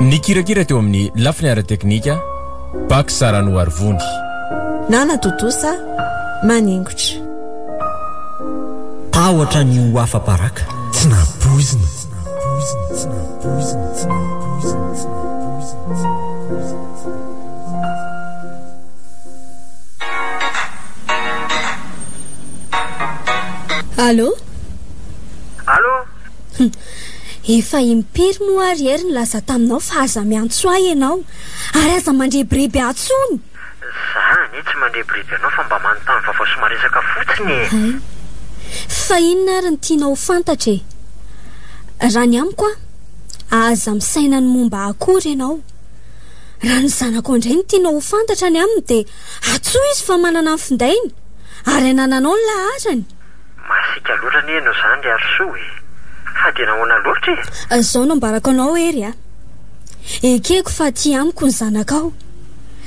Nikirakira teo amin'ny lafiny ara-teknika, Pax Saranoarivony. Nanatontosa maningotra. Tahotra ny ho afa-baraka, tsy nampoizina. Allo? Allo? Efa impiry moa ary ery no laza taminao fa aza miantso ahy ianao ary aza mandrebireby ahy intsony? Za anie tsy mandrebireby anao fa mba manontany vaovao sy maresaka fotsiny e! Hay! Fa inona ary no tianao ho fantatra e? Raha ny amiko an, aza misaina ny momba ahy akory ianao. Raha ny zanako indray no tianao ho fantatra ny aminy dia antsoy izy fa manana ny findainy ary anananao ny laharany. Masiaka loatra anie ianao izany ry Harisoa e! Fa dia nahoana loatra e? Izao no ambarako anao Hery a! Ekeko fa aty amiko ny zanakao,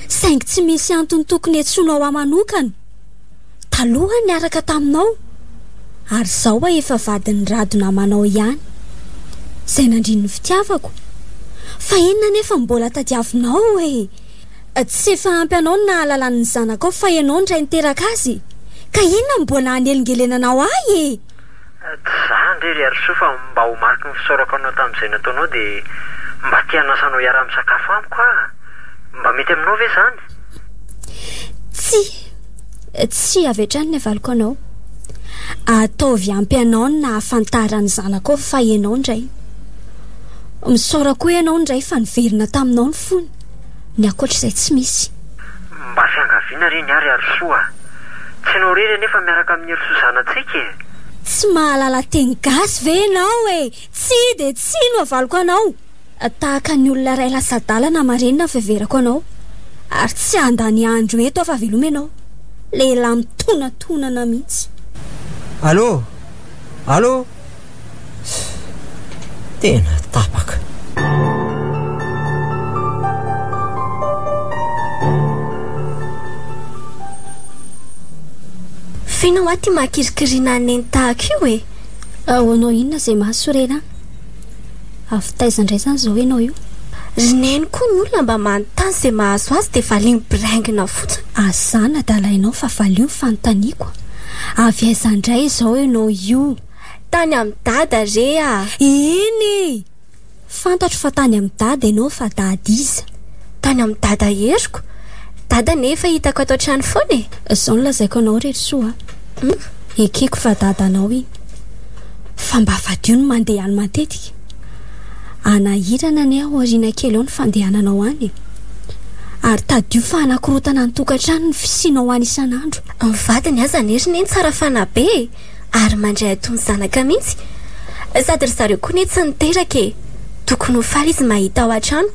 saingy tsy misy antony tokony hiantsoanao ahy manokana. Taloha niaraka taminao, ary izao aho efa vadin'i Rado namanao ihany, izay nandrin'ny fitiavako. Fa inona anefa no mbola tadiavinao e? Tsy efa ampy anao ny nahalalany ny zanakao fa ianao indray niteraka azy? Ka inona no mbola hanelingelenanao ahy e? Tsy za ndry ry Harisoa fa mba ho mariky ny fisaorako anao tamin'izay nataonao dia mba te hanasa anao hiaraha misakafo amiko aho. Mba mety aminao ve izany? Tsia, tsia avy hatrany ny havaloko anao. Ataovy ampy anao ny nahafantara ny zanakao fa ianao indray. Misaora koa ianao indray fa niverina taminao ny fony. Ny ankoatra izay tsy misy. Mba fiangaviana re ny ahy ry Arisoa a! Tsy ianao irery anefa miaraka amin'i Erisoa zanatsika e! Tsy mahalala teny gasy ve ianao e! Tsia dia tsia no avaliko anao! Tahaka ny olona iray lasa adalana marenina no fiheverako anao, ary tsy handany andro eto aho fa veloma ianao! Lehilahy mitonantonana mihitsy! Allô! Allô! Tena tapaka. Feno hoa ty mahakirikirina neny tahaka io e. Ahoanao inona izay mahasorena an? Avy taiza indray izany izao ianao io? Ry Neny koa ny olona mba manontany izay mahazo azy dia valiny biraingina fotsiny. Aza nadalainao fa valio ny fanontaniako. Avy aiza indray izao ianao io? Tany amin'i Dada re a! Eny e! Fantatro fa tany amin'i Dada ianao fa Dada iza? Tany amin'i Dada Heriko. Dada nefa hitako ato an-trano foana e! Izao no lazaiko anao ry Herisou a! Hum! Ekeko fa Dadanao iny. Fa mba fadio ny mandeha any matetika. Hanahirana anie ao aoriana kely ao ny fandehananao any e! Ary tadidio fa hanakorotana ny tokantrano ny fisianao any isan'andro. Ny vadiny azany heriny iny tsara fanahy be e! Ary mandray atony zanaka mihitsy. Sady ry zareo koa ne tsy niteraka e! Tokony ho faly izy mahita ao an-trano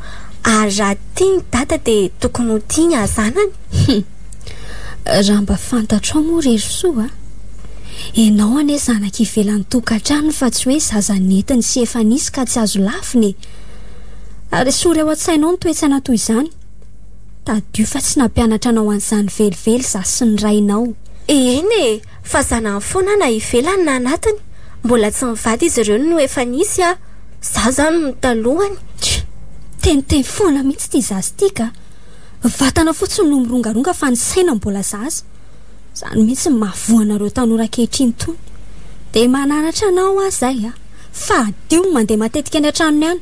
ary raha tia ny dada dia tokony ho tia ny azanany. Hum. Raha mba fantatrao moa ry Herissoa a! Ianao anie zanaka ivelan'ny tokantrano fa tsy hoe zaza nentiny sy efa nisy ka tsy azo lavina e! Ary esory ao an-tsainao ny toe-tsaina toy izany. Tadidio fa tsy nampianatra anao an'izany velively za sy ny rainao. Eny e! Fa zanany foana na ivelany na anatiny mbola tsy mivady izy ireo no efa nisy ah! Za zany no talohany. Tchii! Teniteny foana mihitsy ity zaza ity ka! Ny vatana fotsiny no mirongaronga fa ny saina mbola zaza! Izany mihitsy no mahavoa anareo tanora ankehitriny itony! Dia mananatra anao aho izay a! Fa adio ny mandeha matetika any an-tranony any!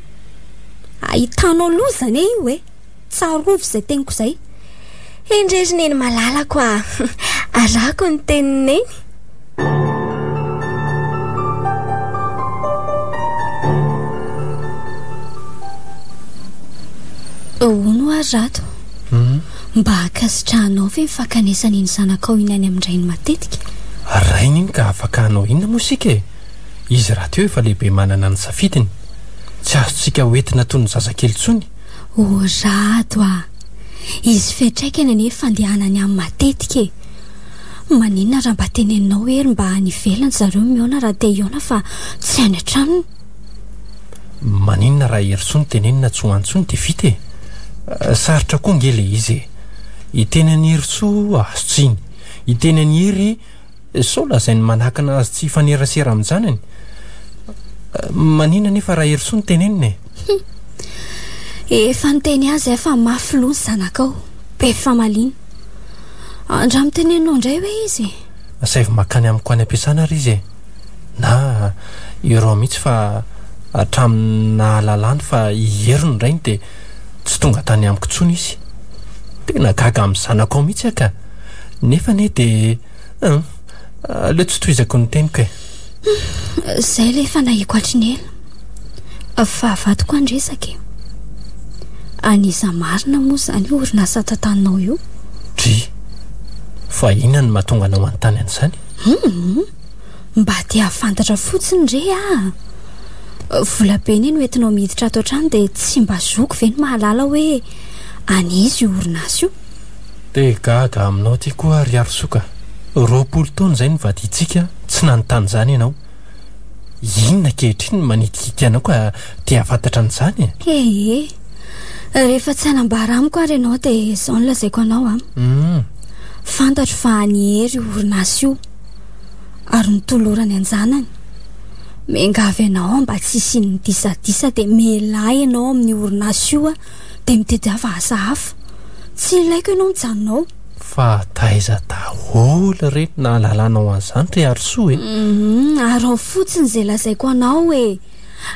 Ahitanao loza anie io e! Tsarovy izay teniko izay. Hendre ry neny malalako a! Arahako ny tenin'i neny. Ahoana oa ry Rato? Mba ankasitrahanao ve ny fankanesana iny zanakao iny any amin-drainy matetika? Rainy iny ka afaka hanao inona moa isika e? Izy rahateo efa lehibe manana ny safidiny. Tsy azontsika hoentina toy ny zazakely intsony. O Rado a! Izy fiantraikany anie fandehanany any matetika e! Maninona raha mba teneninao hoe ry mba any ivelany zareo mihaona raha te hihaona fa tsy any an-tranony? Maninona raha Herisoa no tenenina tsy ho any intsony dia vita e! Sarotra koa ange ilay izy e! Hiteny an'i Herisoa azo tsiny, hiteny an'i Hery Sao lazain'ny manakana azy tsy hifanerasera amin-janany? Manina anefa raha Herisoa no tenenina e! Hum. Efa niteny azy aho fa mafy loha ny zanakao. Be famaliana. Andramo teneninao indray hoe izy e! Asaivo mankany amiko any am-piasana ary izy e! Na ireo mihitsy fa hatramin'ny nahalalany fa i Hery no rainy dia tsy tonga tany amiko intsony izy. Tena gaga amin'ny zanakao mihitsy aho ka! Nefa anie dia Hum, aleo tsy tohizako ny teniko e. Izay ilay fanahiko hatry ny ela. Fahavalo koa ny resaka e. An'iza marina moa izany io orinasa tantaninao io? Dry, fa inona no mahatonga anao manontany an'izany? Hum, mba te hahafantatra fotsiny re ah. Vola be anie no entinao miditra ato an-trano dia tsy mba zoko ve ny mahalala hoe an'iza io orinasa io? Te gaga aminao ty koa ry Harisoa ka! Roapolo taona izay no vadiantsika, tsy nanontany izany ianao. Inona ankehitriny no manitikitika anao ka te hahafantatra an'izany e? Ee, rehefa tsy hanambara amiko ary ianao dia izao no lazaiko anao an! Hum. Fantatro fa an'i Hery io orinasa io ary notolorany an-janany. Miangavy anao aho mba tsy hisian'ny disadisa dia miahilahy ianao amin'io orinasa io an! dia mitety hafa asa hafa. Tsy ilaiko ianao mijanona ao. Fa taiza daholo re no nahalalanao an'izany ry Harisoa e? Hum, araho fotsiny izay lazaiko anao e!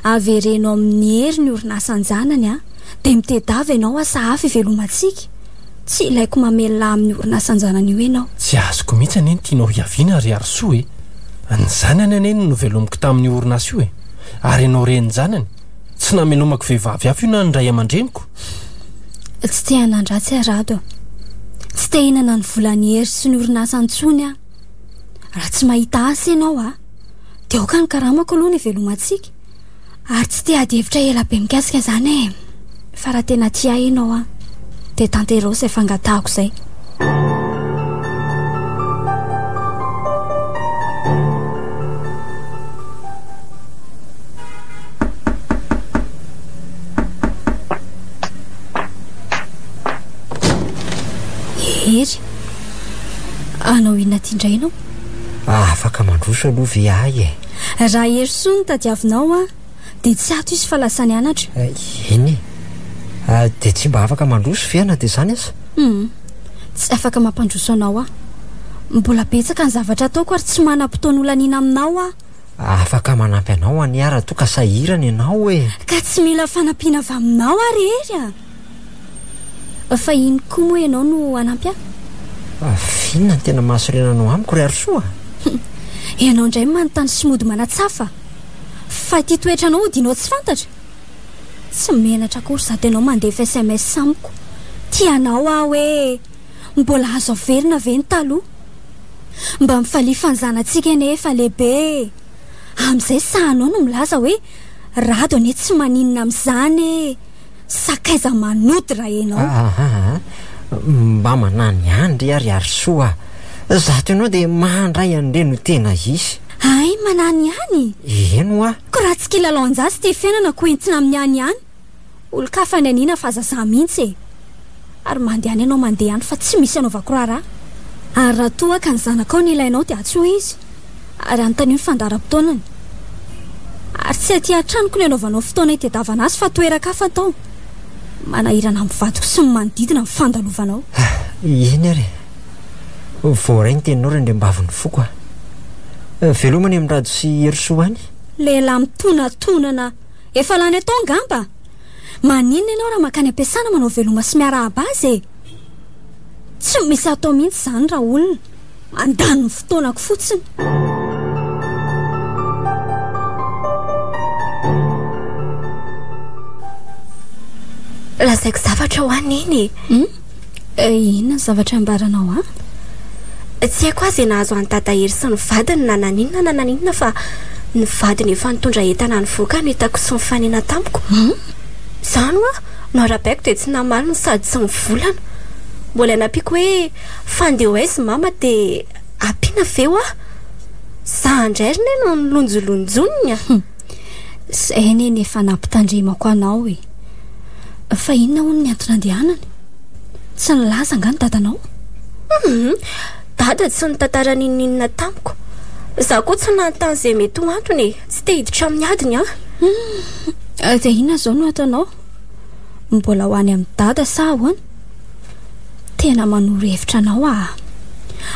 Avereno amin'i Hery ny orinasa an-janany an! Dia mitedava ianao asa hafa ivelomantsika. Tsy ilaiko mamelona amin'ny orinasa an-janany io ianao. Tsy azoko mihitsy anie ny tianao hiaviana ry Harisoa e! Ny zanany anie no novelomiko tamin'io orinasa io e! Ary ianao renin-janany. Tsy namelomako vehivavy hafa io na ny ray aman-dreniko. Tsy te hanan-dratsy aho Rado a. Tsy te hinana ny volan'i Hery sy ny orinasa intsony aho. Raha tsy mahita asa ianao a, dia aoka ny karamako aloha no ivelomantsika. Ary tsy te hady hevitra ela be mikasika izany e. Fa raha tena tia ahy ianao an, dia tanteraho izay fangatahako izay. Hery, hanao inona aty indray ianao? Afaka mandroso aloha ve ahy e? Raha Herisoa no tadiavinao an, Dia tsy ato izy fa lasa nianatra. Eny e. Dia tsy mba afaka mandroso ve na dia izany aza? Humm. Tsy afaka mampandroso anao aho. Mbola betsaka ny zavatra ataoko ary tsy manam-potoana holaniana aminao aho. Afaka manampy anao anie aho raha toa ka sahirana ianao e. Ka tsy mila fanampiana avy aminao aho re. Fa iny koa moa ianao no hanampy ahy? Avy inona ny tena mahasorena anao amiko, ry Arisoa? Ianao indray manontany sy mody manatsafa. Fa ity toetranao odianao tsy fantatra? Tsy menatra akory sady ianao mandefa sms amiko. Tia anao aho hoe, mbola azo averina ve ny taloha? Mba mifalifa ny zanatsika anie efa lehibe e! Amin'izay sahanao no milaza hoe, rado anie tsy maninona amin'izany e! Sakaiza manody raha enao. Ahahaha. Mba manahy ny ahy ndry ary ary soa ah. Zato enao dia mahandray an'ireny ho tena hisy. Hay manahy ny ahy ny. Eny hoa. Ko raha tsy kilalao anjaha sy te fiainana ko entina amin'ny ahy ny ahy. Olon-kafa ny aniana fa aza za mihitsy e. ary mandehana ianao mandeha ihany fa tsy misy anaovako raharaha, ary raha toa ka ny zanakao no ilainao dia antsoy izy ary anontanio ny fandaharam-potoanany, ary tsy aty an-tranoko no anaovanao fotoana hitedavana azy fa toeran-kafa atao manahirana amin'ny vadiko sy ny manodidina ny fandalovanao. Ah, eny ary e! Voaray ny teninao Randriambavin'ny foko a! Ah, veloma any amin'i Rado sy Herosoa any! Lehilahy mitonatonana efa lany atao angamba! Maninona ianao raha mankany am-piasana manao veloma sy miarahaba azy e? Tsy misy atao mihitsy izany raha olona. Mandany ny fotoanako fotsiny. Lazaiko zavatra ho an'i Neny e. Hmm? Eh, inona ny zavatra ambaranao an? Tsy haiko aza nahazo an'i Dada Hery sy ny vadiny na naninona na naninona fa ny vadiny efa nitondra entana nivoaka no hitako tsy nifanena tamiko. Hum? Zany hoa no arabaiko dia tsy namaly no sady tsy mivolana. Mbola nampiako hoe fandeha ho aiza i Mama dia ampiana ve hoa? Za indray ry Neny no nilonjolonjony an! Izay anie ny efa nampitandremako anao e. Fa inona hono ny anton'andehanany? Tsy nilaza angaha ny dadanao? Mhm. Dada tsy nitantara n'inon'inona tamiko. Izaho koa tsy nanontany izay mety ho antony e. Tsy te hiditra amin'ny adiny aho. Hmm. Dia inona izao no ataonao? Mbola ho any amin'ny dada sa ahoana? Tena manoro hevitra anao aho.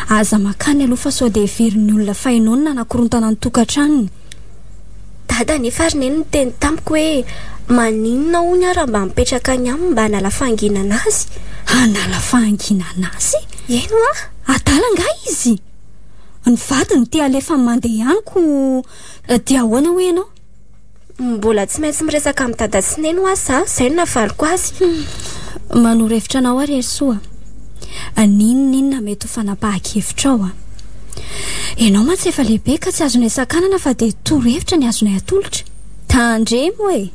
Aza mankany aloha fa sao dia heverin'ny olona fa ianao no nanakorontana ny tokantranony. Dada nefa ary neny niteny tamiko hoe maninona hono aho raha mba mipetraka any aminy mba hanala fahanginana azy. Hanala fahanginana azy? Eny hoa! Adala angaha izy? Ny vadiny te halefa mandeha amiko dia ahoana hoy ianao? Mbola tsy maintsy miresaka amin'i Dada sy Neny hoa za, izay no nafariko azy. Hum, manohor-hevitra anao aho ry Herisoa. N'inon'inona mety ho fanapahan-kevitrao a! Ianao mantsy efa lehibe ka tsy azonay sakanana fa dia torohevitra ny azonay atolotra. Tandremo e!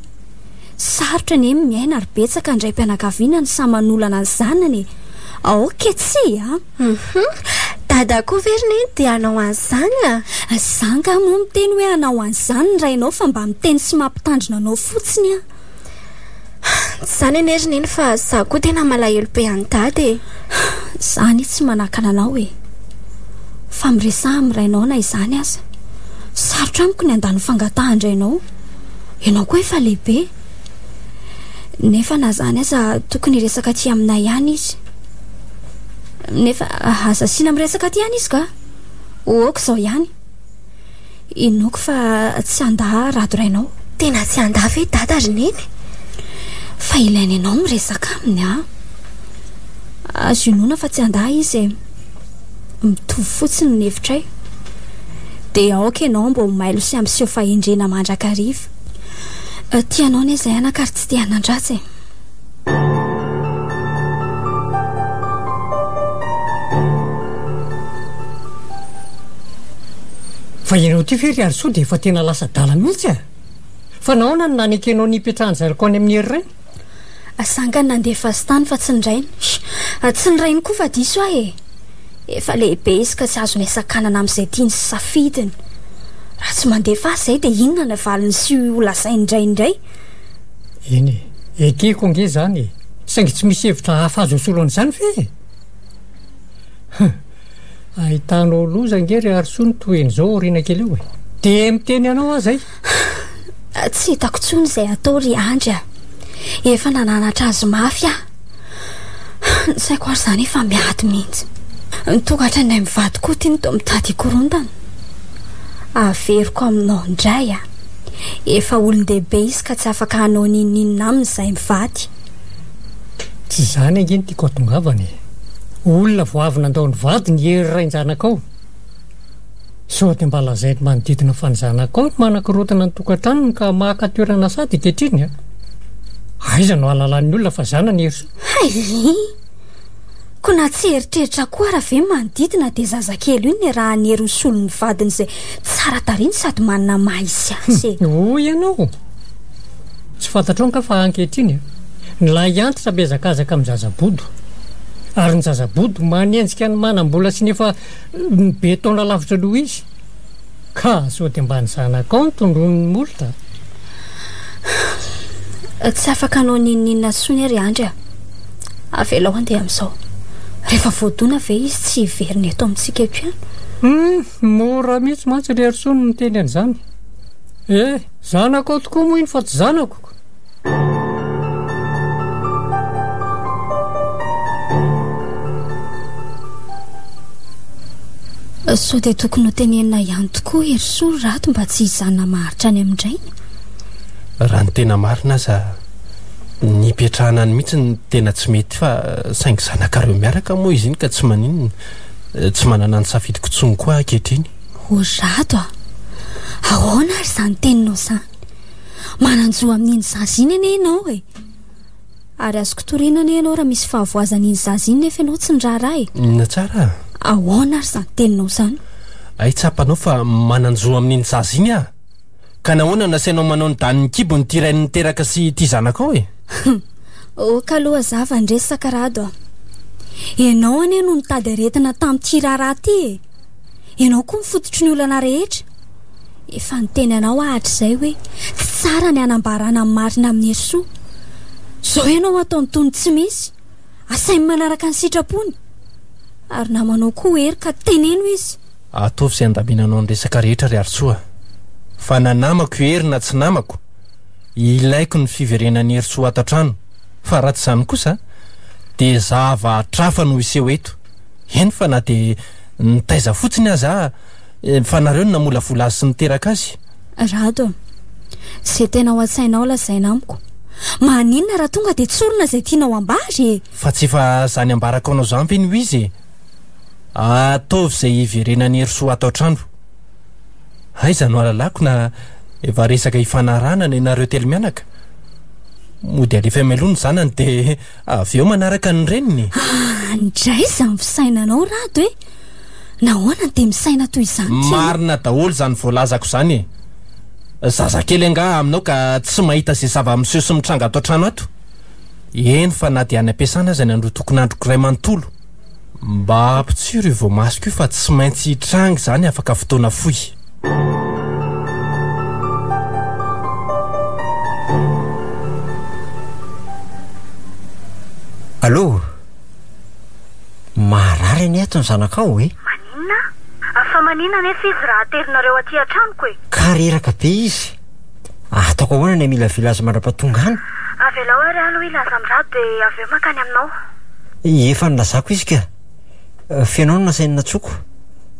Sarotra anie ny miaina ary betsaka ny raim-pianakaviana no samy manolana ny zanany e! Aoka tsia a! Hum! Dada koa ve ry Neny dia hanao an'izany a! Za angaha moa miteny hoe hanao an'izany ny rainao fa mba miteny sy mampitandrina anao fotsiny aho. Tsy izany anie ry neny fa za koa tena malahelo be an'i dada e. Za anie tsy manakana anao e. Fa miresaha amin'ny rainao na izany aza. Sarotra amiko ny handà ny fangatahan-drainao. Ianao koa efa lehibe. Nefa na izany aza tokony hiresaka aty aminay ihany izy. Nefa aza asiana miresaka aty ihany izy kah. Ho aoka izao ihany. Inoako fa tsy handà rado rainao. Tena tsy handà ve dada ry neny? Fa ilaina ianao miresaka aminy an! Azo inoana fa tsy handà izy e. Mitovy fotsiny ny hevitray. Dia aoka ianao mba ho mailo sy hampiseho fahendrena mandrakariva. Tia anao anie izay anaka ary tsy te hanan-dratsy e. Fa ianao ity ve ry Harisoa dia efa tena lasa adala mihitsy ah? Fa nahoana no nanekenao ny hipetrahan'i Zariko any amin'ny Hery Rainy? Asangany nandefa azy tany fa tsy ny rainy. Ah, tsy ny rainy koa fa diso ahy e. Efa lehibe izy ka tsy azony asakanana amin'izay tiany sy safidiny. Raha tsy mandefa azy izay dia inona ny valiny sy ho lazain'ny rainy indray? Eny e, ekeko ange izany e! Saingy tsy misy hevitra hafa azo asolo an'izany ve e? Huh! Ahitanao loza ange ry Harisoa ny tohiny izao aoriana kely eo e! Dia miteny anao aza ahy! Tsy hitako intsony izay hatao ry Andry a! Efa nananatra azy mafy aho! Ny saiko ary izany efa miady mihitsy. Ny tokatra indray mivady koa ity no toa mitady hikorontana. Averiko aminao indray an! Efa olon-dehibe izy ka tsy afaka hanao n'inon'inona aminy izay mivady. Tsy izany ange no tiako hatongavana e! Olona vao avy nandao ny vadiny i Hery rain-janakao. Sao dia mba lazainy ny manodidina fa ny zanakao no manakorontana ny tokantranony ka maka toerana sady ankehitriny an! Aiza no ahalalan'ny olona fa zanany Herisoa? Haiii! Koa na tsy eritreritra koa ara ve ny manodidina dia zazakely io no niarahan'i Herosoa ny vadiny izay tsara tariny sady manana maha izy azy e! Hoy ianao? Tsy fantatrao angaha fa ankehitriny an, ny lahy antitra mihazakazaka amin'ny zaza bodo, ary ny zaza bodo manenjika ny manam-bola sy ny efa Ny be taona lavitra noho izy ka sody ambany zanaka ao ny tondroin'ny molotra. Tsy afaka hanao n'inon'inona intsony ry Andry a. Avelao andeha amin'izao. Rehefa voadona ve izy tsy hiverina eto amintsika eto ihany? Hmm, mora mihitsy mantsy ry Hery Soa ny miteny an'izany. Eh, zanakao tokoa moa iny fa tsy zanako. Sao dia tokony ho tenenina ihany tokoa Herisoa rato mba tsy hijanona maharitra any amin-drainy? Raha ny tena marina aza, nipetrahana any mihitsy ny tena tsy mety fa saingy zanakareo miaraka moa izy iny ka tsy maninona. Tsy manana ny safidiko intsony koa aho ankehitriny. O Rato a! Ahoana ary izany teninao izany? Manan-jo amin'iny zaza iny anie ianao e. Ary azoko toriana anie ianao raha misy fahavoazana iny zaza iny nefa ianao tsy niraharaha e. Na tsara. Ahoana ary izany teninao izany? Hay tsapanao fa manan-jo amin'iny zaza iny aho. Ka nahoana no nasainao manao ny danin'ny kibony ity rainy niteraka sy ity zanakao e? Ok aloha za va ndresy Sakarado a. Ianao anie no nitady aretina tamin'ity raharaha ity e. Ianao koa ny fototry ny olana rehetra. Efa niteny anao hahatrizay hoe tsy tsara ny hanambarana ny marina amin'ny hery soa. Izao ianao ataony toy ny tsy misy. Asainy manaraka ny sitrapony. Ary namanao koa Hery ka teneno izy. Ataovy izay handaminanao ny resaka rehetra ry Harisoa. Fa na namako i Hery na tsy namako, ilaiko ny fiverenan'i Herisoa ato an-trano. Fa raha tsy izany kosa dia zava-hatrafa no hiseho eto. Eny fa na dia nitaiza fotsiny aza aho eh, fa nareo no namolavola azy sy niteraka azy. Rado a! Izay tena ao an-tsainao lazaina amiko. Maninona raha tonga dia tsorina izay tianao ambara e! Fa tsy efa izany ambarako anao izany ve no izy e! Ataovy izay hiverenan'i Herisoa ato an-trano. Aiza no alalako na efa resaka hifanarahana ny anareo telo mianaka? Mody alefa eo mialoha ny zanany dia. Avy eo manaraka ny reniny. Ah, ndray izany fisainanao Rado e! Nahoana no dia misaina toy izany ity? Marina daholo izany voalazako izany e! Zazakely angaha aminao ka tsy mahita izay zava-miseho sy mitranga ato an-trano ato? Eny fa na dia any am-piasana aza ny androtokon'androko iray manontolo. Mba ampitsiro io voamasoko io fa tsy maintsy hitranga izany afaka fotoana fohy. Allo! Maharary anie ato ny zanakao e! Maninona? Fa maninona anefa izy raha aterinareo aty an-tranoko e? Ka reraka be izy. Ataoko ahoana ny hamilavila azy mandra-pahatonga any? Avelao ary aloha hilaza amin'Ra dia avy eo mankany aminao. Efa nilazako izy ka! Feno aho no nasainy natsoiko.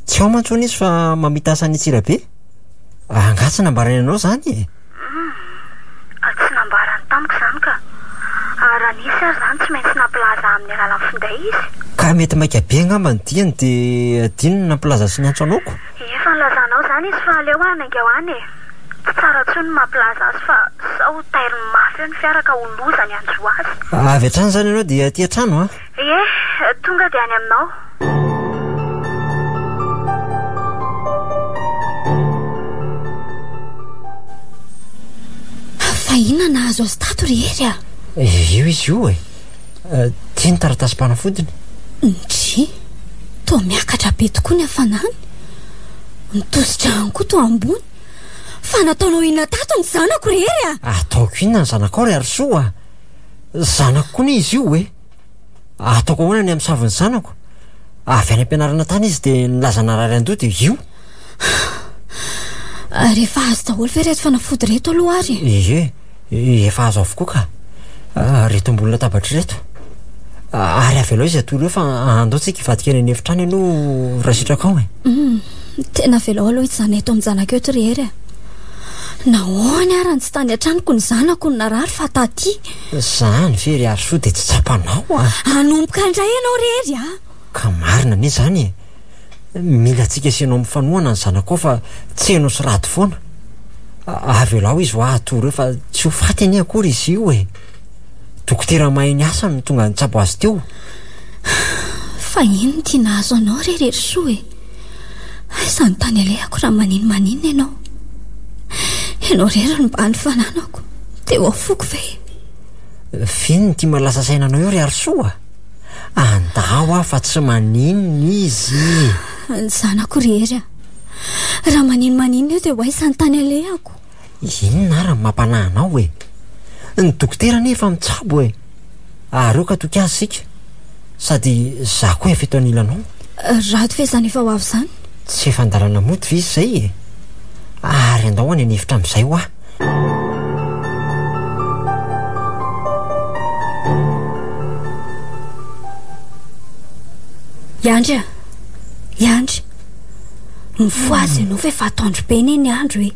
Tsy ao mantsy hono izy fa mamita asa any Antsirabe. Angaha tsy nambarany anao izany e? Humm. Tsy nambarany tamiko izany ka. Raha nisy ary izany tsy maintsy nampilaza amin'ny alalan'ny finday izy. Ka mety maika be angamba ny diany dia adinony ny nampilaza sy niantso anao ko! Efa nilazanao izany izy fa aleo hanainga ho any e! Tsy tsara intsony ny mampilaza azy fa sao ho tairiny mafy eo ny fiara ka ho loza ny hanjo azy. Avy hatrany izany ianao dia aty an-trano an! Ie, tonga dia any aminao. Fa inona nahazo azy tato ry Hery a? Efa avy eo izy io e! Eh, Ty ny taratasim-panafodiny. Ndry! Toa miakatra be tokoa ny hafanany. Ny tosi-drano koa toa ambony. Fa nataonao inona tato ny zanako ry Hery a? Ataoko inona ny zanakao ry Harisoa a? Zanako koa anie izy io e. Ataoko ahoana ny amin'ny savon'ny zanako? Avy any am-pianarana tany izy dia nilaza narary an-doha dia io. Ary efa azo daholo ve reto fanafody reto aloha ary? Ie, efa azo avokoa ka. Ah, reto ambony latabatra reto. Ah, ary avelao izy atoro eo fa andao tsika hivadika any an'efitrano ianao raha sitraka ao e. Hmm, tena avelao aloha hijanona eto amin'ny zanaka eto ry Hery e. Nahoana ary tsy tany an-tranoko ny zanako no narary fa taty? Izany ve ry Harisoa dia tsy tsapanao ah? Hanomboka indray ianao ry Hery ah! Ka marina anie izany e. mila antsika sy ianao mifanohana ny zanakao fa tsy heno sy rado foana avelao izy ho ahy hatory eo fa tsy ho faty anie akory izy io e dokotera mahay ny asany no tonga nitsabo azy teo fa ino ty nahazo anao re rery soa e aiza ny tany alehako raha manino manino ianao ianao rery ny mba ny fananako teo ao foko ve e fino ny tia malasa saina anao eo ry arosoa Andao aho fa tsy maninona izy e! Ny zanako ry Hery a! Raha maninona maninona eo dia ho aiza ny tany alehako? Inona ary no mampanahy anao e? Ny dokotera anie efa mitsabo e! Ary eo ka toky azy isika! Sady izaho koa efa eto anilanao. Rado ve izany efa ho avy izany? Tsy efa an-dalana mody ve izy izay e? Ary andao any an'efitra amin'izay hoa! Yandry a! Yandry! Mifohaza ianao fa efa atoandro be anie ny andro e!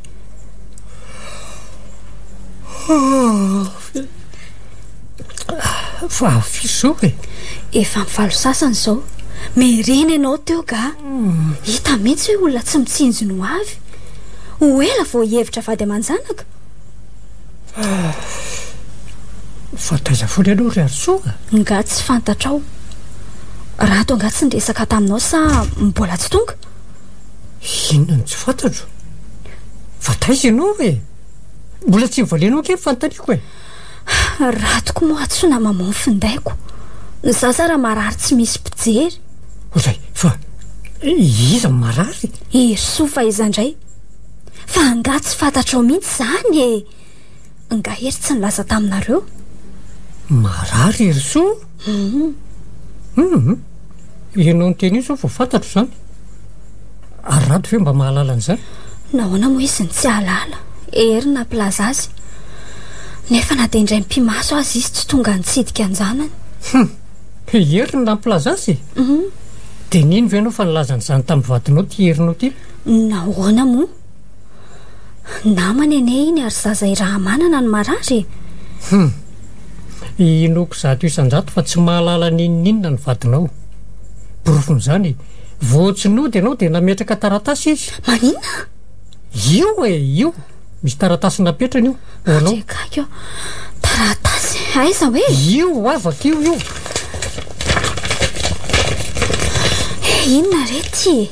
Fa avy izao e! Efa amin'ny valo sasany izao. Merena ianao teo ga! Hita mihitsy hoe olona tsy mitsinjo ny ho avy. Ho ela vao hihevitra vady aman-janaka? Fa taiza foana ianao ry Harisoa a? Nga tsy fantatrao? Rato angaha tsy niresaka taminao sa mbola tsy tonga? Inona no tsy fantatro? Fa taiza ianao e? Mbola tsy nivalianao ange ny fanontaniako e? Ratoko moa tsy namamoa ny findaiko. Ny zaza raha marary tsy misy mpijery. Ozay, fa iza no marary? Herisoa fa iza indray? Fa angaha tsy fantatrao mihitsy izany e! Angaha hery tsy nilaza taminareo? Marary Herisoa? Hum hum ianao niteny io zao vao fantatro zany ary rado ve mba mahalala an'izay nahoana moa izy ny tsy ahalala hery nampilaza azy nefa na dia indray mpimaso azy izy tsy tonga nitsidika anjanany hum hery ny nampilaza azy hum dia nino ve ianao fa nilazan'izany tamin'ny vadinao ty herinao ty nahoana moa Namany anie iny ary zaza irahamanana no marary e. Hum. Inoako zato isan-jato fa tsy mahalala n'inon'inona ny vadinao. Porofon'izany, vao tsy nody ianao dia nametraka taratasy izy. Maninona? Io e, io. Misy taratasy napetrany io, ho anao. Tsy akaiky aho. Taratasy? Aiza hoe? Io hoa, vakio io. Inona re ity e?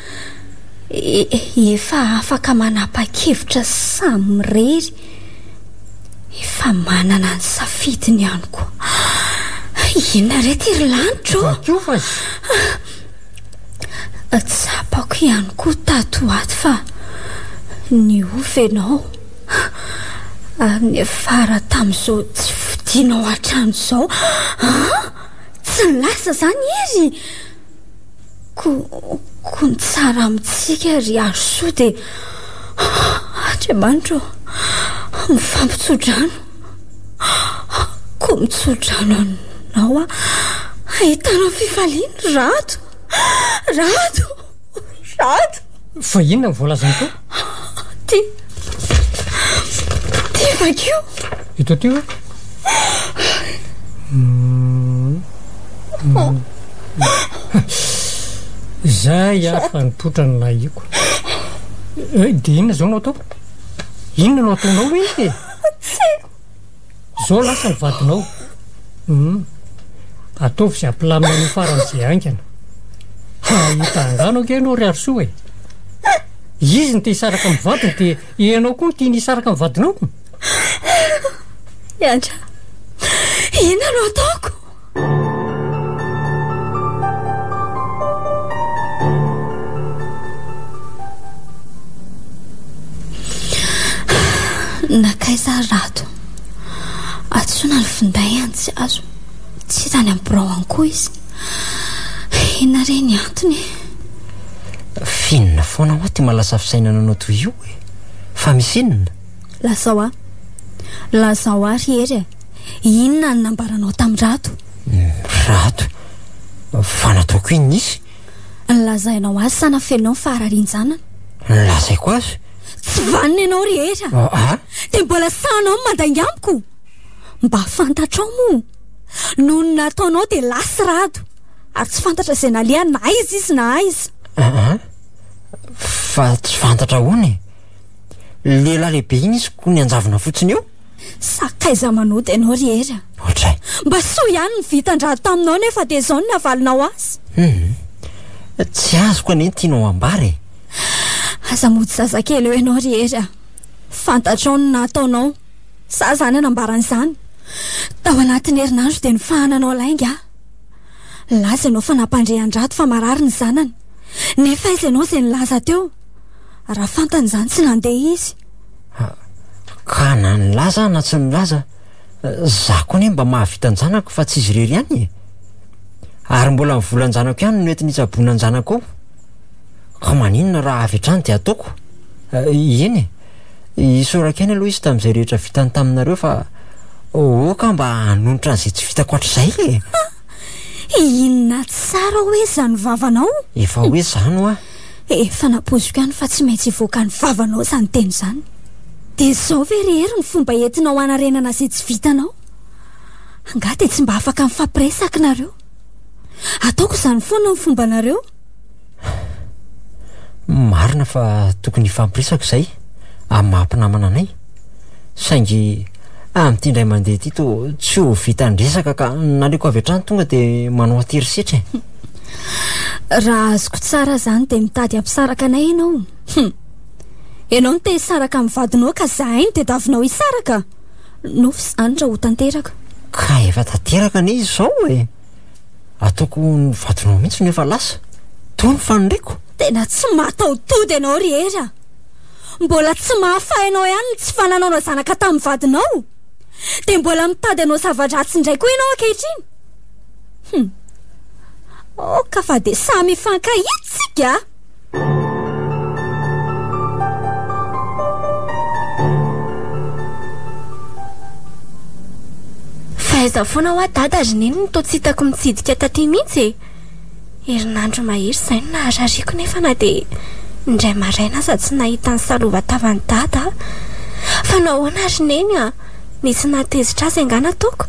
Efa afaka manapa-kevitra samirery. Efa manana ny safidiny ihany koa. Inona re ty ry lanitra ô? Vakio fa zy. Tsapako ihany koa tato ho ato fa niofy ianao. Ary niafara tamin'izao tsy fodianao hatramin'izao. An! Tsy lasa izany izy. Ko, ko ny tsara amintsika ry Harosoa dia, Andriamanitra ô, mifampitsodrano, ko mitsodrano anao aho hahitana fifaliana, Rado, Rado, Rado. Fa inona no voalazany teo? Ty. Ty vakio. Eto ty hoe. Mm. Mm. Zay afa nipotra ny nahiko. Eh, dia inona izao no atao? Inona no ataonao hoe? Zao lasa ny vadinao. Humm. Ataovy izay ampilamina an'io farany izay haingana. Hahita angano ange ianao ry Harisoa e. Izy no te hisaraka amin'ny vadiny dia ianao koa no tiany hisaraka amin'ny vadinao? Miandrava. Inona no ataoko? Nakaiza rato Atsona ny finday any tsy azo Tsy hitany amin'ny birao any koa izy Hena re ny antony Finina foana hoa ty malasa fisainana anao toy io e Fa misy inona Lazao ahy Lazao ahy ry hery e Inona no nambaranao tamin'i Rato? Rato? Fa nataoko inona izy? Nilazainao azy sa nafeninao ny fahararian-janany? Nilazaiko azy. Tsy vanona ianao ry Hery a! Ah, ah. Dia mbola sahanao ny mandainga amiko? Mba fantatrao moa, noho ny nataonao dia lasa i Rato, ary tsy fantatra izay nalehany na aiza izy na aiza. Ah, ah. Fa tsy fantatra ahoana e? Lehilahy lehibe iny izy koa nianjavona fotsiny eo? Sakaiza manota ianao ry Hery a! Ohatray! Mba soa ihany ny vitan-draha taminao nefa dia izao ny navalinao azy! Hum! Tsy azoko anie ny tianao ambara e! Aza mody zazakely eo ianao ry Hery a! Fantatrao ny nataonao, sa izaho no hanambara an'izany? Tao anatin'ny herinandro dia nifahananao lainga aho. Nilaza ianao fa nampandre an-drato fa marary ny zanany. Nefa aiza ianao izay nilaza teo? Raha fantany izany tsy nandeha izy. Ka na nilaza aho na tsy nilaza, za koa anie mba mahavita an-janako fa tsy izy irery ihany e! Ary mbola ny volan-janako ihany no nety nitsaboana an-janako ao, ka maninona raha avy hatrany dia ataoko? Eny e, isaorako ihany aloha izy tamin'izay rehetra vitany taminareo fa aoka mba hanonitra an'izay tsy vitako hatrizay e! Inona tsara hoe izany vavanao? Efa hoe izany hoa! Eh, fanapoziko any fa tsy maintsy hivoaka ny vavanao izany teny izany. Dia izao ve ry Hery ny fomba entinao hanarenana izay tsy vitanao? Angaha dia tsy mba afaka mifampiresaka nareo? Ataoko izany foana ny fombanareo. Marina fa tokony hifampiresaka izay amin'ny maha mpinamana anay. Saingy amin'ity indray mandeha ity toa tsy ho vitan'ny resaka ka naleoko avy hatrany tonga dia manao an-tery setra e. Raha azoko tsara izany dia mitady hampisaraka anay ianao. Hum. Ianao no te hisaraka amin'ny vadinao ka izahay no tadiavinao hisaraka. Nofy izany raha ho tanteraka. Ka efa tanteraka anie izao e! Ataoko ho ny vadinao mihitsy no efa lasa. Toa ny faniriako. Tena tsy mataho-tody ianao ry Hery a! Mbola tsy mahafahy anao ihany ny tsy fananaonao zanaka tamin'ny vadinao, dia mbola mitady hanao zava-dratsy indray koa ianao ankehitriny. Hum. Oh, ka fa dia samy hifankahitsika! Fahaiza foana hoa dada ry neny no toa tsy hitako mitsidika taty mihitsy e! Herinandro mahery izay no naharariako nefa na dia indray maraina aza tsy nahita ny salovan-tavan'i Dada aho. Fa nahoana ry Neny a! Nisy nahatezitra azy angaha nataoko?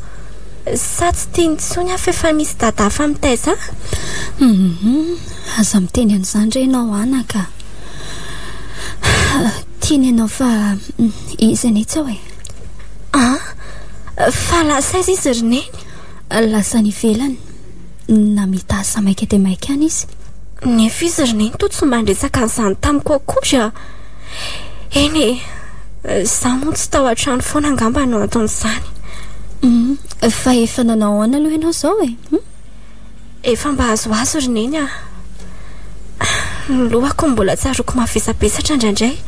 Sa tsy tiany intsony aho fa efa misy Dada hafa mitaiza ahy? Humm! Aza miteny an'izany re ianao anaka a! Tiany ianao fa izy anie tsy ao e! An! Fa lasa aiza izy ry Neny? Lasa any ivelany. Namita asa maika dia maika any izy. Nefa izy ry neny toa tsy mba niresaka an'izany tamiko akory a! Eny e, izaho moa tsy tao an-trano foana angamba no anton'izany. Humm, fa efa nanao ahoana aloha ianao izao e? Humm. Efa mba azoazo ry neny a! Ny lohako no mbola tsaroako mavesabesatra indraindray.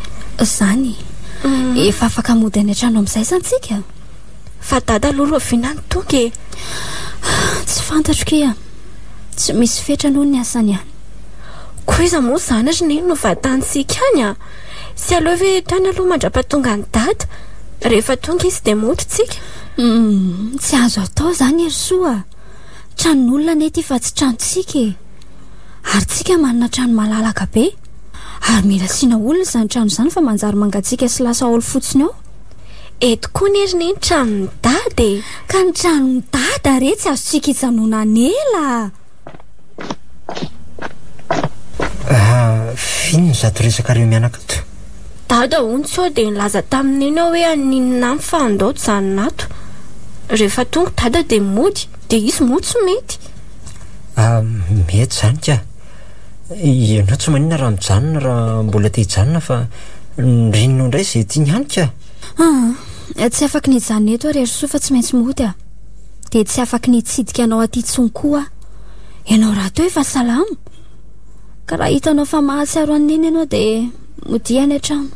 Izany e. Efa afaka mody any an-trano amin'izay izany tsika? Fa dada aloha loviana ny tonga e! Tsy fantatro kia! Tsy misy fetra aloha ny asany an! Koa iza moa izany ry neny no vatantsika any an! Tsy aleo ve hatrany aloha mandrapatongan'i dada? Rehefa tonga izy dia mody tsika? Humm! Tsy azo atao izany Herisoa a! Tranon'olona anie ity fa tsy tranontsika e! Ary tsika manana trano malalaka be! Ary mila asiana olona izany trano izany fa manjary mangatsiaka sy lasa haolo fotsiny ao! Eto koa nery ne ny tranon'i dada e! Ka ny tranon'i dada re tsy azontsika ijanona an'ela a! Vino ny zato resakareo mianaka ato. Dada hono sao dia nilaza tamin'i neny aho hoe haninona any fa handao hijanona ato. Rehefa tonga i dada dia mody, dia izy moa tsy mety. Mety izany ka. Ianao tsy maninona raha mijanona raha mbola te hijanona fa nirinao indray izay tiany ihany ka! Aa! Tsy afaky ny hijanona eto ary Harisoa fa tsy maintsy mody aho. Dia tsy afaky ny hitsidika anao aty intsony koa aho. Ianao rahateo efa salama? Ka raha hitanao fa mahatsiaro an'i Neny ianao dia. Modia any an-trano.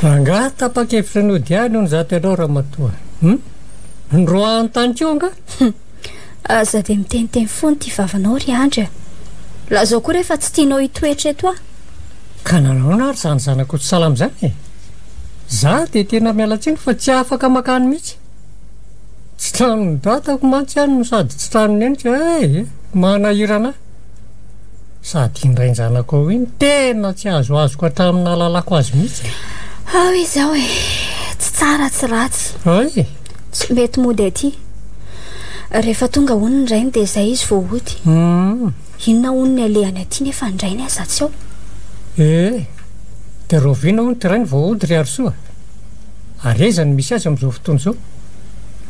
Angaha tapa-kevitra ny hody any hono izaho tenao ramatoa. Hmm? Ny roa an-tany koa nga? Hmm. Aza dia miteniteny foana ity vavanao ry Andry. Lazao koa rehefa tsy tianao hitoetra eto aho. Ka nanaona ary izany zanako tsy salama izany e. Za dia tena mialatsiny fa tsy afaka makany mihitsy. Tsy tranon'ny dadako mantsy any no sady tsy tranon'ny neniko eh, eh, manahirana ahy. Sady indray ny zanako ao iny tena tsy azoazoko hatramin'ny nahalalako azy mihitsy. Ao izao eh, tsy tsara tsy ratsy. Ay! Tsy mety mody aty. Rehefa tonga hono ny rainy dia izay izy vao hody. Hmm. Inona hono ny alehany aty nefa ny rainy aza tsy ao. Eh, dia rahoviana hono ty rainy vao hody ry Harisoa? Ary aiza no misy azy amin'izao fotoana izao?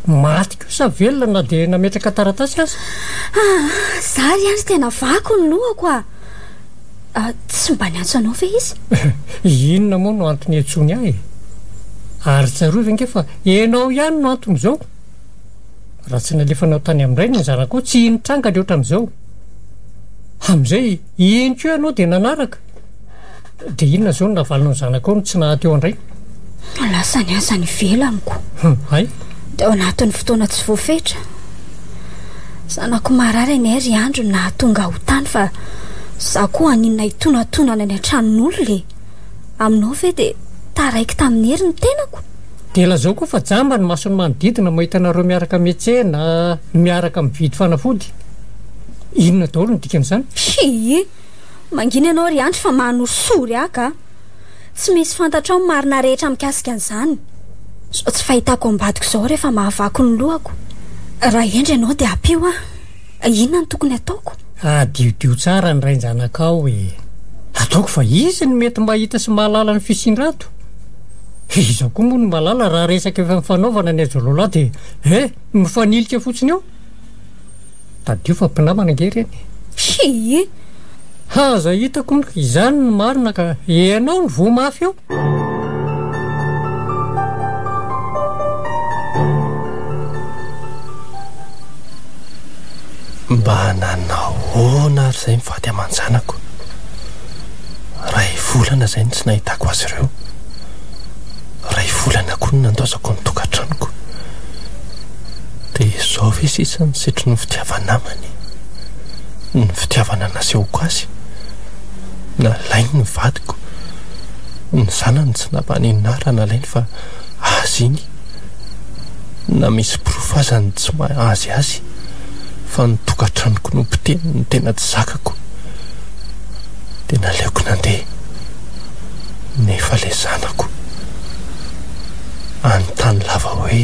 Maty koa sa velona na dia nametraka taratasy aza? Ah, za ry any tena vaky ny lohako ah. ah tsy mba niantso anao ve izy? Inona moa no antony hiantsoany ahy? Ary tsarovy ange fa ianao ihany no antony izao. Raha tsy nalefanao tany amin-dray ny zanakao, tsy hino tranga ny ohatran'izao. Amin'izay, iny koa ianao dia nanaraka. Dia inona izao no navalinao ny zanakao no tsy naha teo an-drainy? Lasa ny asany ivelaniko. Hum, hay. Dia ao anatin'ny fotoana tsy voafetra. Zanako marary anie ry Andry no nahatonga ahy ho tany fa izaho koa haninona hitonantonana any an-tranon'olona e. Aminao ve dia taraiky tamin'ny hery ny tenako? Dia lazao koa fa jamba ny mason'ny manodidina mahita anareo miaraka miantsena, miaraka mividy fanafody. Inona daholo no dikan'izany? Hii! Mangina ianao ry Andry fa mano soa ry Aka a! Tsy misy fantatrao ny marina rehetra mikasika an'izany. Izao tsy fahitako ambadiko izao rehefa mahavaky ny lohako. Raha hendry ianao dia ampio aho. Inona no tokony ataoko? Adiodio tsara ny rain-janakao e! Ataoko fa izy no mety mahita sy mahalala ny fisian-drato. Iza koa moa no malala raha resaka efa nifanaovana ny ajololahy dia eh! mifanilika fotsiny eo? Tadidio fa mpinamana ange ireny e! Hii! Ha aza hitako hono izany no marina ka ianao no voa mafy eo! Mba nanahoana ary izay mivady aman-janako? Iray volana izay no tsy nahitako azy ireo. Iray volana koa no nandosako ny tokantranoko. Dia izao ve sisa ny setrin'ny ny fitiava-namana e? Ny fitiavana nasehoko azy, nalainy ny vadiko, ny zanany tsy nampanenina ahy raha nalainy fa azy iny, na misy porofo aza ny tsy maha-azy azy fa ny tokantranoko no potehiny no tena tsy zakako. Dia naleoko nandeha, nefa ilay zanako, hanontany lava hoe.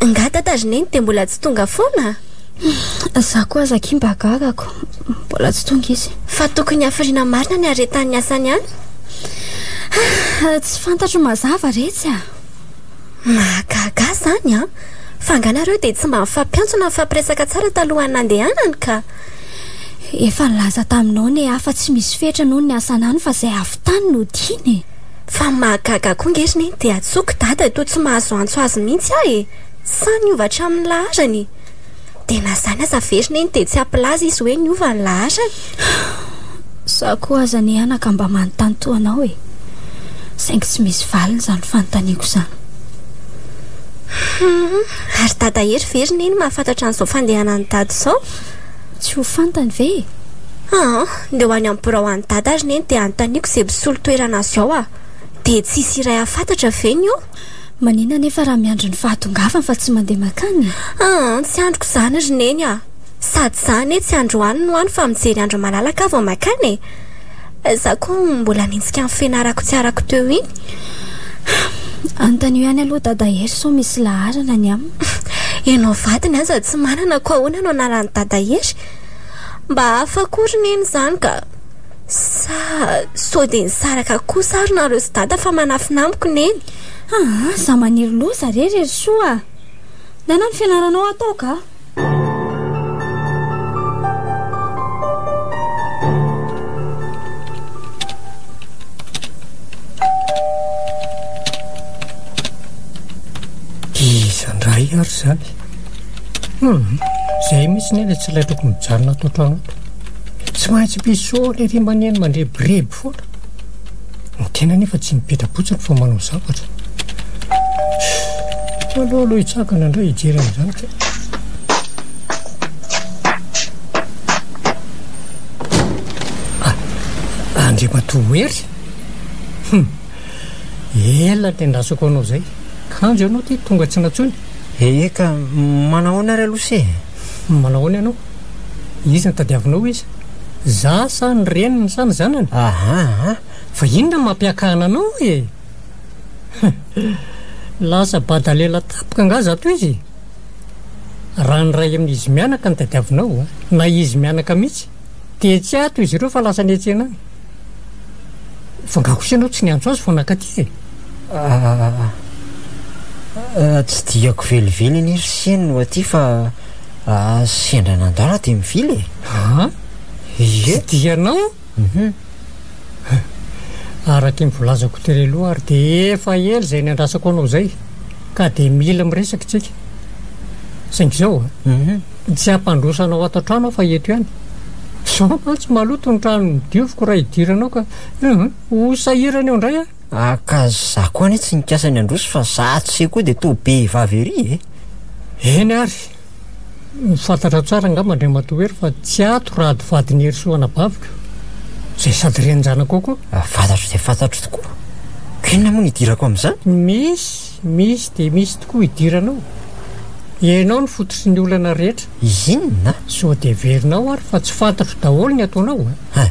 Nga tatazy neny dia mbola tsy tonga foana? Za koa aza aky mba gagako. Mbola tsy tonga izy. Fa tokony hafiriana marina ny aretan'ny asany any. Ah, tsy fantatro mazava retsy ah. Mahagaga zany ah. Fa anganareo dia tsy mba mifampiantso na mifampiresaka tsara talohan'ny nandehanany ka. Efa nilaza taminao ny ahy fa tsy misy fetra noho ny asana any fa izay avy tany no tiana e! Fa mahagaga koa nge ry neny dia antsoiko dada toa tsy mahazo antso azy mihitsy aho e! Sa niova hatramin'ny laharany? Dia na izany aza ve ry neny dia tsy hampilaza izy hoe niova ny laharany? Za koa aza anie anaka mba manontany toa anao e! Saingy tsy misy valiny izany fanontaniako izany. Ary Dada Hery ve ry Neny mahafantatra an'izao fandehanan'i Dada izao? Tsy ho fantany ve e? Aa! Ndeha ho any amin'ny birao any Dada ry Neny dia anontaniako izay mpisolo toerana azy ao aho. Dia tsy hisy iray hahafantatra ve ny eo? Manina anefa raha miandry ny fahatongavany fa tsy mandeha mankany e! Aa! Tsy andriko izany ry Neny aa! Sady izaho anie tsy androany no any fa mijery andro malalaka aho vao mankany e! Za ko mbola anenjika ny fianarako tsy arako teo iny. Anontanio ihany aloha Dada Hery sao misy laharana ny aminy. Enao vadiny aza tsy manana ko ahoana no anarany Dada Hery? Mba hafa akory ny eny izany ka. Sa sao dia nisaraka kosa ary nareo sy Dada fa manafina amiko ny eny. Aa za maniry loza re Rerisoa a! Inona ny fianaranao atao ka? Iza ndray ary izany? Hmm, izay mihitsy ny ilay tsy ilay tokony mijanona ato an-trano ato. Tsy maintsy mpisolo ery maneno mandrebireby. Poa! Ny tena anefa tsy mipetra-potsiny fa manao zavatra. Aleo aloha hitsangana indray hijery an'izany ka. Ah, Andriamatoa Hery? Hum, ela ny tendrasako anao izay. Kanjo ianao ity tonga tsy nantsony. Eka, manahoana ary aloha se? Manao ahoana ianao? Iza no tadiavinao hoy izy. Za sa ny reniny sa ny zanany? Ahaa, fa inona no mampiakana anao e? Lasa bada lela tampoka angaha za tohizo e? Raha ny iray amin'izy mianaka no tadiavinao, na izy mianaka mihitsy, Dia tsy ato izy ireo fa lasa niantsena any. Fa nga kosa ianao tsy niantso azy vao nakaty e? Ah, ah, tsy diako velively anie ry Seny no aty fa ah, sendra nandala dia mivily e. Ah, ie. Tsy dianao? Mhm. Araka ny volazako tery aloha ary dia efa ela izay niandrasako anao izay ka dia mila miresaka isika. Saingy izao ah. Mhm. Tsy hampandroso anao ato an-trano aho fa eto ihany. Izao mantsy maloto ny trano nodioviko raha idiranao ka ho sahirana eo indray aho. Ah ka za koa anie tsy nikasa ny handroso fa za ato se koa dia toa be vavy ery e! Eny ary! Fantatrao tsara angamba Andriamatoa Hery fa tsy ato rado vadin'i Herisoa anabaviko, izay sady renin-janako koa. Fantatro dia fantatro tokoa. Ka inona moa no idirako amin'izany? Misy! Misy dia misy tokoa hidiranao. Ianao no fototry ny olana rehetra. Inona? Sao dia heverinao ary fa tsy fantatro daholo ny ataonao a!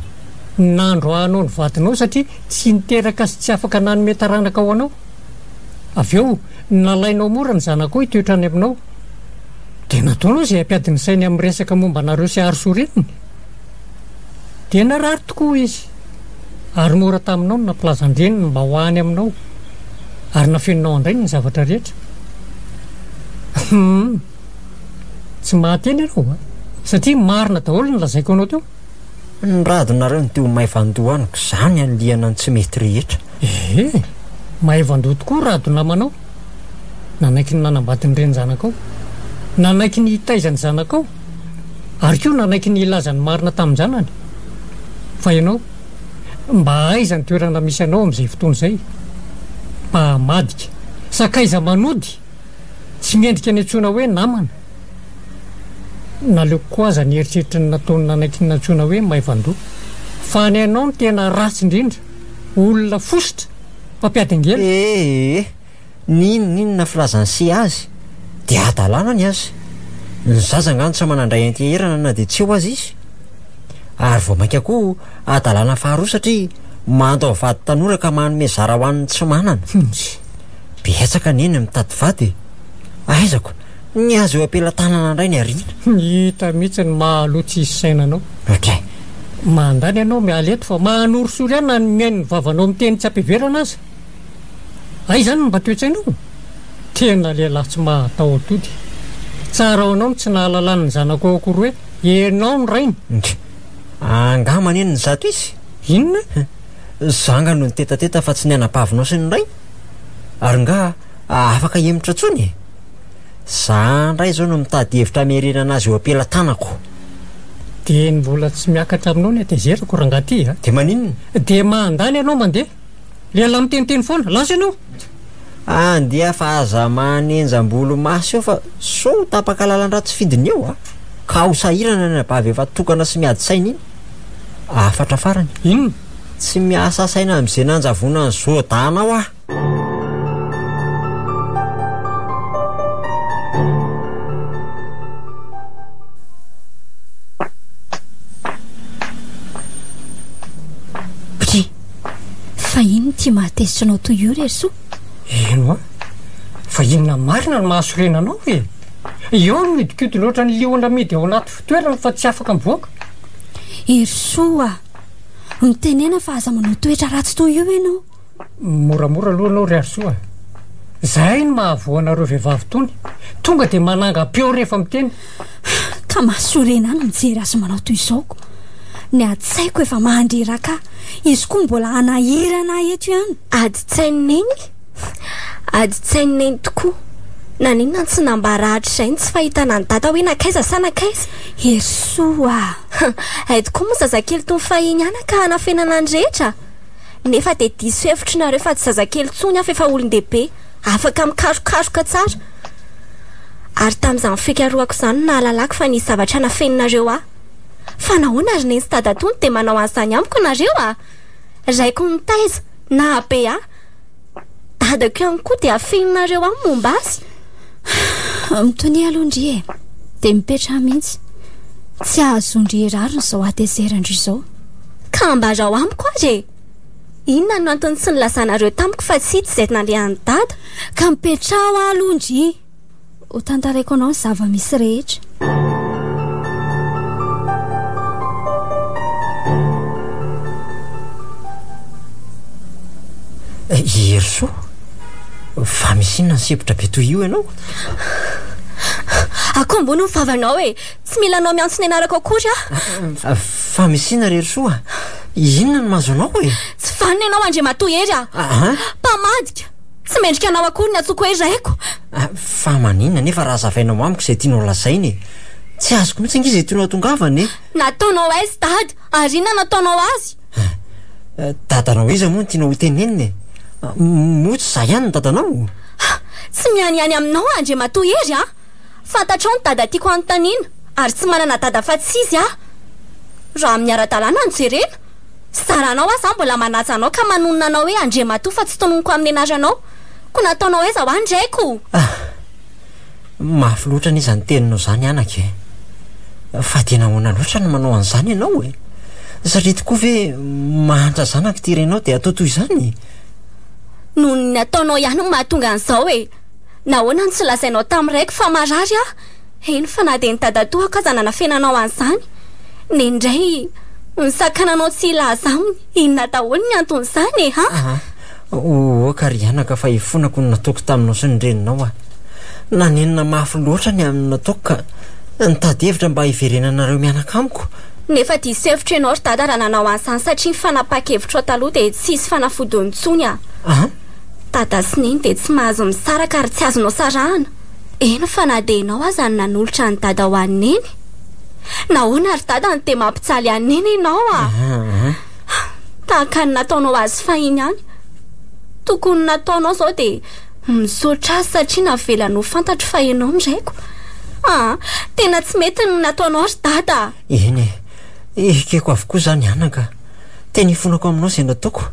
Nandroahanao ny vadinao satria tsy niteraka sy tsy afaka nanome taranaka ho anao. Avy eo, nalainao mora ny zanakao hitoetra any aminao. Dia nataonao izay hampiady ny sainy amin'ny resaka momba anareo sy Arsorianiny. Dia narary tokoa izy, ary mora taminao ny nampilazan-dreniny mba ho any aminao, ary nafeninao an-drainy ny zavatra rehetra. Humm! Tsy mahateny ianao a! Satria marina daholo ny lazaiko anao teo. Ny radonareo no te ho maivan-doha amiko, izaho ny anilihana ny tsy mety rehetra. Ee, maivan-doha tokoa rado namanao. Nanaiky ny nanambady ny renin-janakao. Nanaiky ny hitaiza ny zanakao. Ary koa nanaiky ny hilaza ny marina tamin-janany, Fa ianao, mba aiza ny toerana misy anao amin'izay fotoana izay? Mpahamadika, sakaiza manody, tsy mendrika ny antsoina hoe namana. Naleoko koa aza ny eritreritry ny nataony nanaiky ny nantsoina hoe maivan-doha. Fa ny anao no tena ratsy indrindra, olona fositra, mpampiady angelo. Ee. N'inon'inona filazan'ny se azy dia hadalana ny azy. Ny zaza angano tsy manandray anteherana na dia tsy eo aza izy. Ary vao mainka koa hadalana faharoa satria mando amin'ny vady tanora ka manome zara ho an'ny tsy manana. Betsaka anie ny mitady vady e! Aizako, ny azy eo am-pelatanana indray ny ariana. Hita mihitsy ny maha aloha tsy hisy saina anao. Ohatran. Mandany ianao miala eto fa mahanorisory ahy na ny mihaino ny vavanao miteny tsy am-piverana aza. Hay izany no mba toetsainao? Tena lehilahy tsy mahataho-tody. Tsara ho anao ny tsy nahalalany ny zanako ao akory hoe ianao no rainy. Ndry! Angaha maneno ny zato izy? Inona? Za angaha no nitetateta fa tsy ny anabavinao sy ny rainy? Ary ngaha afaka hihemotra intsony e? Za indray izao no mitady hevitra hamerenana azy eo am-pelatanako. Dia ny mbola tsy miakatra aminao ny hatezerako, rangaha ty a! Dia maninona? Dia mandany ianao mandeha. Ilay lahy miteniteny foana, lasa ianao! Any dia fa aza manenja ambolo maso eo fa sao ho tapaka lalan-dratsy fidiny eo a! Ka ho sahirana ny anabavy efa tokana sy miady saina iny! Hafatra farany. Inona? Tsy miasa saina amin'izay nanjavona an'i Zoda anao aho! Fa inn ity mahatezitra anao toy io re Soa? Eno an! Fa inona marina no mahasorena anao e? Eo no mihodinkodina ohatra ny liona amidy ao anaty fitoerany fa tsy afaka mivoaka. Herisoa a! Mitenena fa aza manao toetra ratsy toy io ianao. Moramora aloha ianao ry Harisoa a! Izay no mahavoa anareo vehivavy tony, tonga dia manangam-peo rehefa miteny. Ka mahasoriana ahy ny mijery azy manao toy izao. Ny adin-tsaiko efa mandriraka ahy. Izy koa mbola hanahirana ahy eto ihany. Adin-tsain'i Neny? Adin-tsain'i Neny tokoa. Naninona tsy nambara hatrizay ny tsy fahitana an'i Dada hoe nankaiza sa nankaiza? Herisoa a! Hay tokoa moa zazakely toy ny fahiny ihany ka hanafenana ny rehetra? Nefa dia diso hevitry nareo fa tsy zazakely intsony aho fa efa olon-dehibe. afaka mikarokaroka tsara. Ary tamin'izany fikarohako izany no nahalalako fa nisy zavatra nafeninareo ahy. Fa nahoana ry Neny sy Dada Tonty dia manao an'izany amiko nareo a! Raiko nitaiza, nahabe ahy. Dadako ihany koa dia afeninareo ahy momba azy. Mitonia aloha ndry e! Dia mipetraha mihitsy. Tsy ahazoan-dry hirarona izao hatezeran-dry izao. Ka ambarao amiko ary e! Inona no antony tsy nilazanareo tamiko fa tsy ito izay nalehan'i Dada? Ka mipetraho aho aloha ndry ho tantaraiko anao ny zava-misy rehetra. I Herisoa? Fa misy inona ny sempotra be toy io ianao? Akoho ambony ny vavanao e! Tsy mila anao miantso ny anarako akory aho. Famisina ry Herisoa a! Inona no mahazo anao e? Tsy vanona ianao Andriamatoa Hery a! Mpamadika! Tsy mendrika anao akory ny antsoiko hoe raiko. Fa maninona anie fa raha hazavainao amiko izay tianao lazaina e? Tsy azoko mihitsy ange izay tianao hatongavana e! Nataonao aiza Dada ary inona no ataonao azy? Dadanao iza moa no tianao hotenenina e? Moa tsy izaho ihany no dadanao? Tsy mianiany aminao aho Andriamatoa Hery a! Fantatrao ny dada tiako hanontaniana ary tsy manana dada afa-tsy izy aho. Raha amin'ny ara-dalàna no jerena, zaranao aho zany mbola manaja anao ka manonona anao hoe Andriamatoa fa tsy tononiko amin'ny anaranao. Koa nataonao aiza hoa ny raiko? Ah! Mafy loatra anie izany teninao izany anaka e! Fa dia nahoana loatra no manao an'izany ianao e? Satria tokoa ve mahantra zanaka ity renao dia atao toy izany? Noho ny ataonao ihany no mahatonga an'izao e! Nahoana no tsy lazainao tamin'ny raiko fa marary aho? Eny fa na dia ny dadatoako aza nanafenanao an'izany. Neny indray nisakana anao tsy hilaza aminy inona daholo ny anton'izany e! Ha? Aha! Ohoka ry anaka fa ifonako ny nataoko taminao sy ny reninao a! Nanenina mafy loatra ny amin'ny nataoko ka nitady hevitra mba hiverenanareo mianaka amiko. Nefa diso hevitra ianao ry dada raha nanao an'izany satria ny fanapaha-kevitrao taloha dia tsy hisy fanafodiny intsony a! An? Dada sy Neny dia tsy mahazo misaraka ary tsy azonao sarahana, eny fa na dia ianao aza no nanolotra an'i Dada ho an'i Neny. Nahoana ry Dada no dia mampijaly an'i Neny ianao a! Tahaka ny nataonao azy fahiny ihany. Tokony nataonao izao dia misaotra azy satria navelany ho fantatro fa ianao no raiko. Ah, tena tsy mety ny nataonao ry Dada a! Eny e, ekeko avokoa izany anaka. Tena ifonako aminao izay nataoko,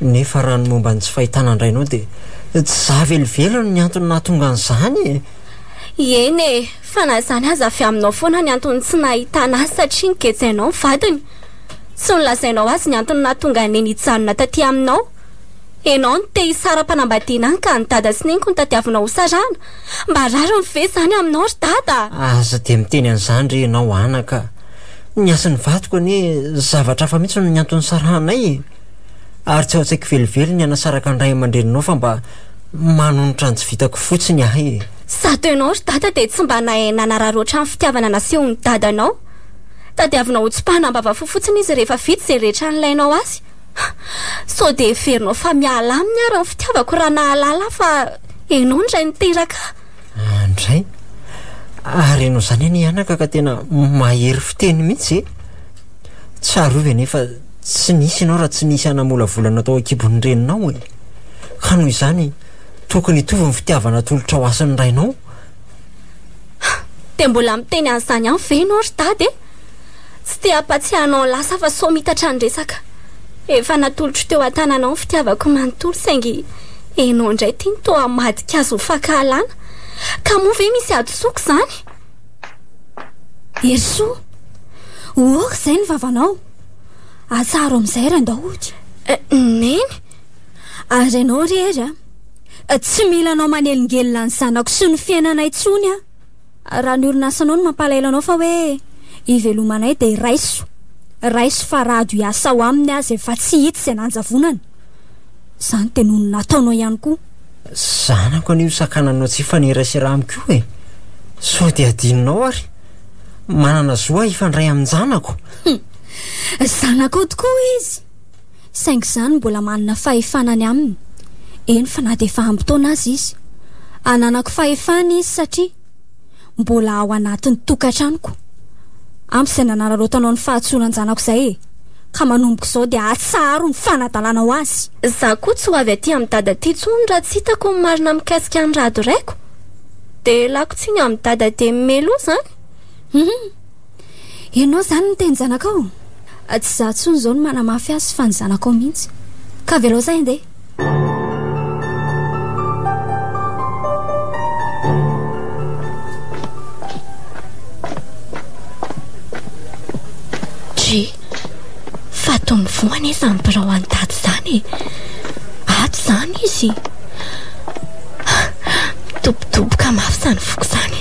nefa raha ny momba ny tsy fahitana an-drainao dia tsy za velively no niantony nahatonga an'izany e! Eny e! Fa na izany aza avy aminao foana ny antony tsy nahitana azy satria nigetsehanao ny vadiny. Tsy nolazainao azy ny antony nahatonga an'i Neny hijanona taty aminao. Enao no te hisara-panambadiana any ka an'i Dada sy Neniko no tadiavinao ho sarahana. Mba rariny ve izany aminao ry Dada? Aza dia miteny an'izany re ianao anaka a! Ny hasin'ny vadiko anie zavatra hafa mihitsy no niantony nisarahanay e! Ary tsy ao an-tsaiko velively ny hanasaraka ny ray aman-dreninao fa mba manonitra ny tsy vitako fotsiny ahay e! Sady ianao ry dada dia tsy mba nahay nanarary ohatran'ny fitiavana nasehon'ny dadanao. Tadiavinao ho tsipahina am-bavafo fotsiny izy rehefa vita izay rehetra nilainao azy. Sao dia heverinao fa miala aminy ary ny fitiavako raha nahalala ahy fa ianao no ray niteraka ahy? Andray, ary ianao izany anie anaka ka tena mahery fiteny mihitsy e! Tsarovy anie fa tsy nisy ianao raha tsy nisy hanamolavolana tao an-kibon'ny reninao e! Ka noho izany, tokony hitovy ny fitiavana atolotrao azy sy ny rainao. Dia mbola miteny an'izany ihany ve ianao ry Dada e? Tsy te hampatsiahy anao lasa fa sao miitatra ny resaka. Efa natolotro teo an-tananao ny fitiavako manontolo saingy enao indray ity no toa hamadika azy ho fankahalana. Ka moa ve misy hadisoako izany? Herisoa! Ho aoka izay ny vavanao. Atsaharo amin'izay ry Andaody. Neny! Ary ianao ry Hery a! Tsy mila anao manelingelina ny zanako sy ny fiainanay intsony aho. Raha ny orinasanao no mampalahelo anao fa hoe ivelomanay dia raiso. Raiso fa rado hiasa ao aminy aza efa tsy hita izay nanjavonany. Izany dia noho ny nataonao ihany koa. Zanako anio sakananao tsy hifanerasera amiko e! Sao dia adinonao ary? Manana zo aho hifandray amin-janako. Zanakao tokoa izy! saingy izany mbola manana fahefana ny aminy, eny fa na dia efa ampy taona aza izy. Ananako fahefana izy satria mbola ao anatin'ny tokantranoko, ampy izay nanararaotanao ny fahatsoran-janako izay e! ka manomboka izao dia atsaharo ny fanadalana ho azy. Za koa tsy ho avy aty amin'i dada aty tsony raha tsy hitako ny marina mikasika an'i rado raiko. Dia lako tsiny amin'i dada dia meloa zany. Humm. Ianao izany no miteny zanakao? Tsy izaho intsony izao no manamafy azy fa ny zanakao mihitsy. Ka avelao izay handeha. Try, fatin'ny voa anefa ny birao an'i Dada izany e. Ato izany izy. Mitobotoboka mafy izany foko izany.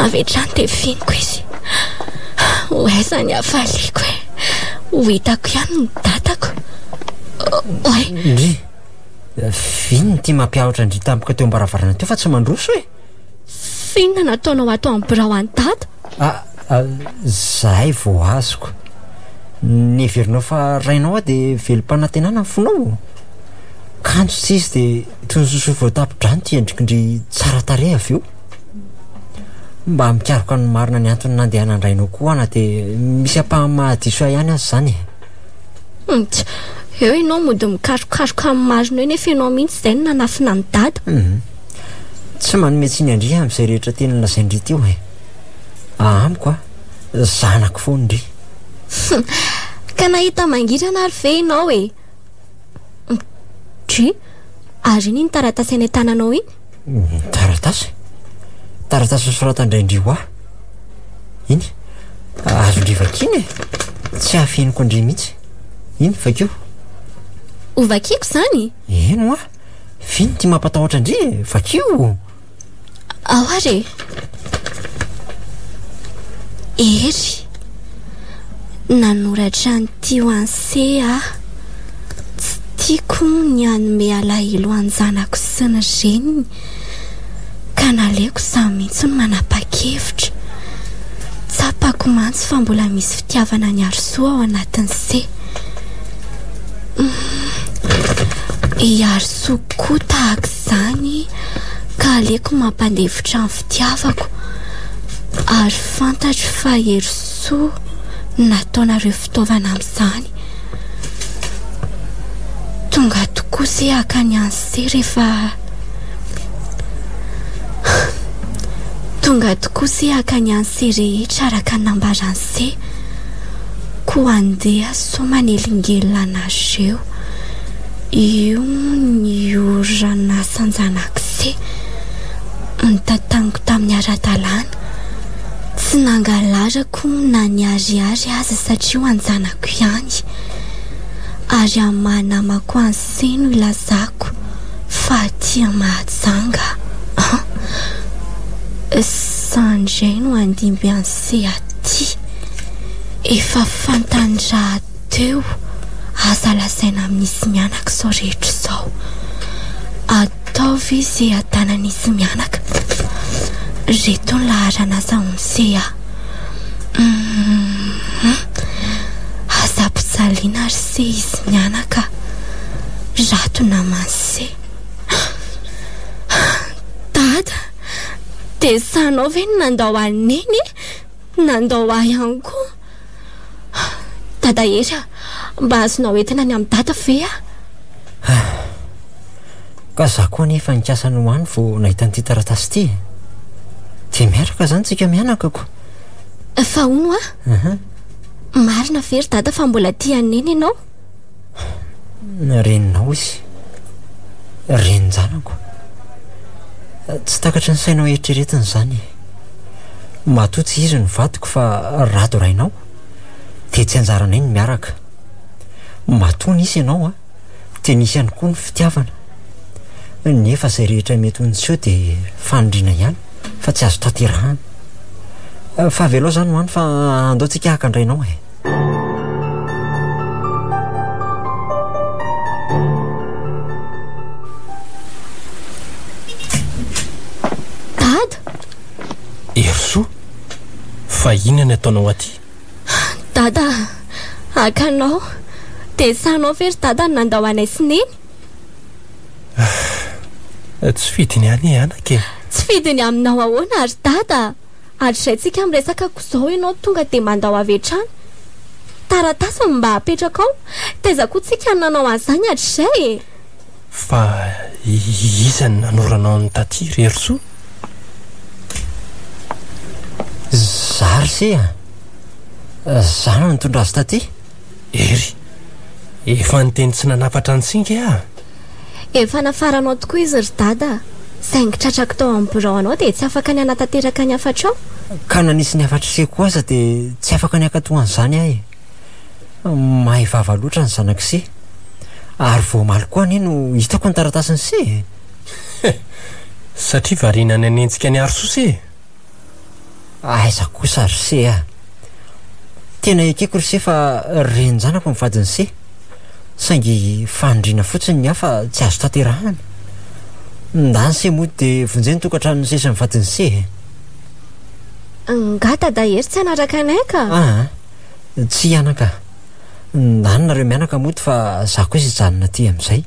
Avy hatrany dia finiko izy. Ho aiza ny hafaliako e Ho hitako ihany ny datako Oay Ndry Vino ity mampiahotra an-dry tampoka teo am-baravarana teo fa tsy mandroso e Finona nataonao ato amin'ny birao an'i dada Ah, ah zahay vao azoko Neverinao fa rainao aho dia velom-panantenana ny fonao Kanjo tsy izy dia toy ny sosoa voatapon-drano ity endriko ndry tsara tarehy avy eo Mba mikaroka ny marina ny antony nandehanan-drainao koa ana dia misy ampahany mahadiso ahy ihany aza izany e. Hum, tch, eo ianao mody mikarokaroka amin'ny marina eo nefa ianao mihitsy izay no nanafina an'i Dada. Hum, tsy manome tsiny an-dry aho amin'izay rehetra teny nolazain-dry teo e. Amiko an, zanako foana indry. Hum, ka nahita mangirana ary ve ianao e? Hum, dry, ary iny ny taratasy any an-tananao iny? Taratasy? Taratasy nosoratan-dRaindriwa? Iny? Azon-dry vakiana e! Tsy hafeniko an-dry mihitsy. Iny, vakio. Ho vakiako izany? Eny hoa! Vino ity mampatahotra an-dry e! Vakio! Ao ary e! Hery. Nanoratra an'ity ho an'i Cé aho. Tsy tiako ny hanome alahelo an'ny zanako sy ny reniny, ka naleoko izaho mihitsy no manapa-kevitra. Tsapako mantsy fa mbola misy fitiavana an'i Harisoa ao anatin'i Cé. I Harisoa koa tahaka izany, ka aleoko mampandefitra ny. Tiavako ary fantatro fa hery soa no nataonareo fitaovana amin'izany. Tonga tokoa se hakany any se rehefa Tonga tokoa se hakany any se rehetra araka ny nambarany se ko andeha so manelingelina anareo io ny oranasan-janakise. ny tantaniko tamin'ny ara-dalàna. Tsy nangalarako na ny ariary aza satria ho an-janako ihany. Ary amin'ny maha namako an'ise no ilazako fa aty Mahajanga an! Sa ndray no handimby an'ise aty? Efa fantany rahateo, aza lazaina amin'izy mianaka izao rehetra izao. Tao ve seha tana nisy mianaka? Reto ny laharan'asa ao ny seha. Hum Aza ampijaliana ary se izy mianaka. Rato naman'i se. Dada, dia izaho ve no nandao an'i Neny e? Nandao ahy ihany koa. Dada Hery a! Mba azonao entina any amin'ny Dada ve a? Ka za koa anie efa nikasa ny ho any vao nahita an'ity taratasy ity e! Dia miaraka izany tsika mianakako! Fa hono a! Marina ve ry Dada fa mbola tia an'i Neny ianao? Reninao izy. Renin-janako. Tsy takatry ny sainao eritreretina izany e. Matoa tsy izy no vadiko fa Rado rainao, dia tsy anjaranay ny miaraka. Matoa nisy ianao an, dia nisy ihany koa ny fitiavana. Nefa izay rehetra mety ho niseho dia faniriana ihany fa tsy azo tanterahana. Fa avelao izany ho any fa andao tsika haka an-drainao e. Dada! Herisoa, fa inona ny ataonao aty? Dada, haka anao. Dessin anao ve ry dada no nandao anay sy neny? Tsy fidiny any e anaka e. Tsy fidiny aminao ahoana ry dada? ary izay tsika miresaka ko zao enao tonga de mandao avy hatrany taratasy ny mba apetraka ao taiza ko tsika ny nanao an'izany hatrizay e! Fa iza ny nanoranao an'i Taty ry Herosoa? Za ry se a! Za no nitondra azy taty. Hery, efa niteny tsy nanafatra an'i Singa e ah! Efa nafaranao tokoa izy ry Dada a! Saingy tratrako tao amin'ny birao anao dia tsy afaka ny hanatanteraka ny hafatrao? Ka na nisy ny hafatr'iseko aza dia tsy afaka ny hankatoa an'izany aho e! Mahay vava loatra ny zanak'ise! Ary vao omaly koa anie no hitako ny taratasin'ise e! Satria variana ny hanenjika an'i Harisose e! Aiza kosa ry se a! Tena ekeko ry se fa renin-janako ny vadin'i se, saingy fanindriana fotsiny ny hafa tsy azo tanterahana. Ndany se moa dia vonjeo ny tokantranon'i se sy ny vadin'i se e! Angaha Dada Hery tsy hanaraka anay ka? Aa! Tsia anaka! Ndany nareo mianaka mody fa za kosa hijanona aty amin'izay.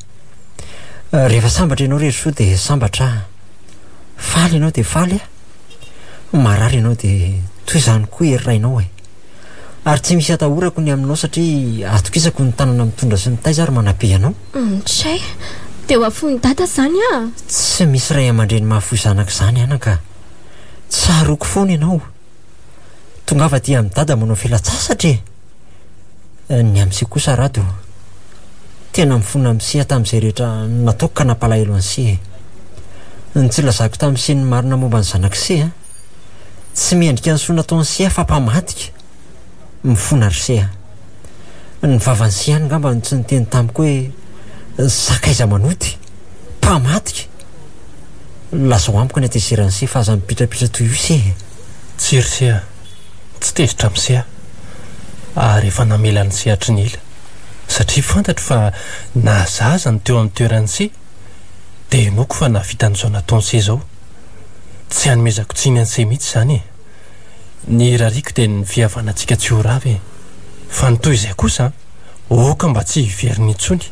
Rehefa sambatra ianao ry Herisoa dia sambatra aho. faly ianao dia faly ah, marary ianao dia toy izany koa ery rainao eh! ary tsy misy atahorako ny aminao satria atokisako ny tanana mitondra sy mitaiza ary manabe anao. Mtchè, dia ho afoin'i Dada izany ah! Tsy misy ray aman-dreny mahafoy zanaka izany anaka ah! Tsaroako foana ianao. Tongava aty amin'i Dada manao filatsasatra e! Ny amin'ise kosa Rado, tena mifona amin'ise tamin'izay rehetra nataoko ka nampalahelo an'ise e! Ny tsy nilazako tamin'ise ny marina momba ny zanak'ise an! Tsy mendrika ny soa nataon'ise afa-pamadika! Mifona ry Seha. Ny vavan'i Seha any ngamba no tsy niteny tamiko hoe sakaiza manoty, mpamadika! Lazao amiko ny hatezeran'i Seha fa aza mipitrapitra toy io Seha e! Tsia ry Seha, tsy tezitra amin'i Seha ary efa namela an'i Seha hatry ny ela satria fantatro fa na za aza no teo amin'ny toeran'i Seha dia hinoako fa nahavita an'izao nataon'i Seha izao. Tsy hanomezako tsiny an'i Seha mihitsy izany e! Ny rariko dia ny fihavanantsika tsy ho rava e! Fa ny toy izay kosa an! Oka mba tsy hiverina intsony!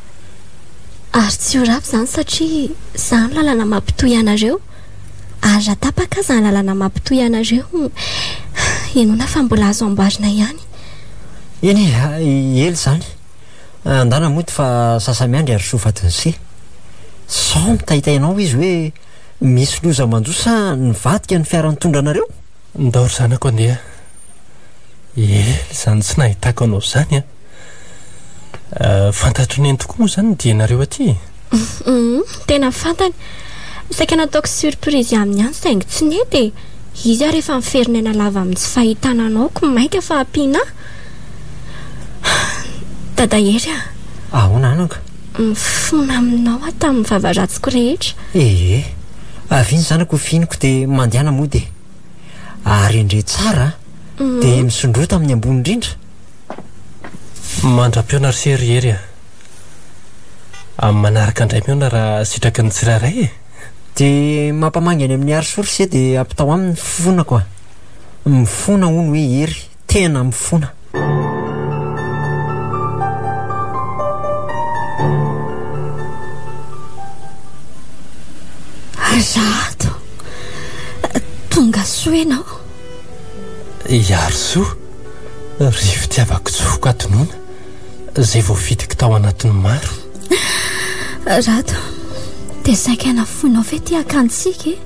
Ary tsy ho rava izany satria izaho no lalana mampitohy anareo. Ary raha tapaka aza ny lalana mampitohy anareo, henoina fa mbola azo amboarina ihany. Eny e! Ela izany. Andana mody fa sasa-miandry ary soa fatin'ise. Sao mitaitaina ao izy hoe. Misy loza manjo sa nivadika ny fiara nitondra anareo? Ndao ry zanako andeha. Ela izany tsy nahitako anao izany an! Fantatro neny tokoa moa izany ny dianareo aty e! Tena fantany. Saika nataoko surprise aminy ihany saingy tsy nety e! Izy ary efa miferina aina lava amin'ny tsy fahitana anao koa mainka fa ampianà. Dada Hery a! Ahoana anaka? Mifona aminao aho tamin'ny vava ratsiko rehetra. Ee, avy iny zanako ho fihiniko dia mandehana mody e. Arendre tsara dia misondrota amin'ny ambony indrindra. Mandra-pihaona ry se ry Hery a! Amin'ny manaraka indray mihaona raha sitraky ny tsirairay e! Dia mampamangy any amin'i Hary soa ry se dia ampitao aminy ny fifonako a! Mifona hono hoe Hery. tena mifona. Aza ato, tonga soa ianao. Iarisoa, ry fitiavako tsy vokatonona, izay voafidiko tao anatin'ny maro. Rado, dia saika nafoinao ve ity akantsika e?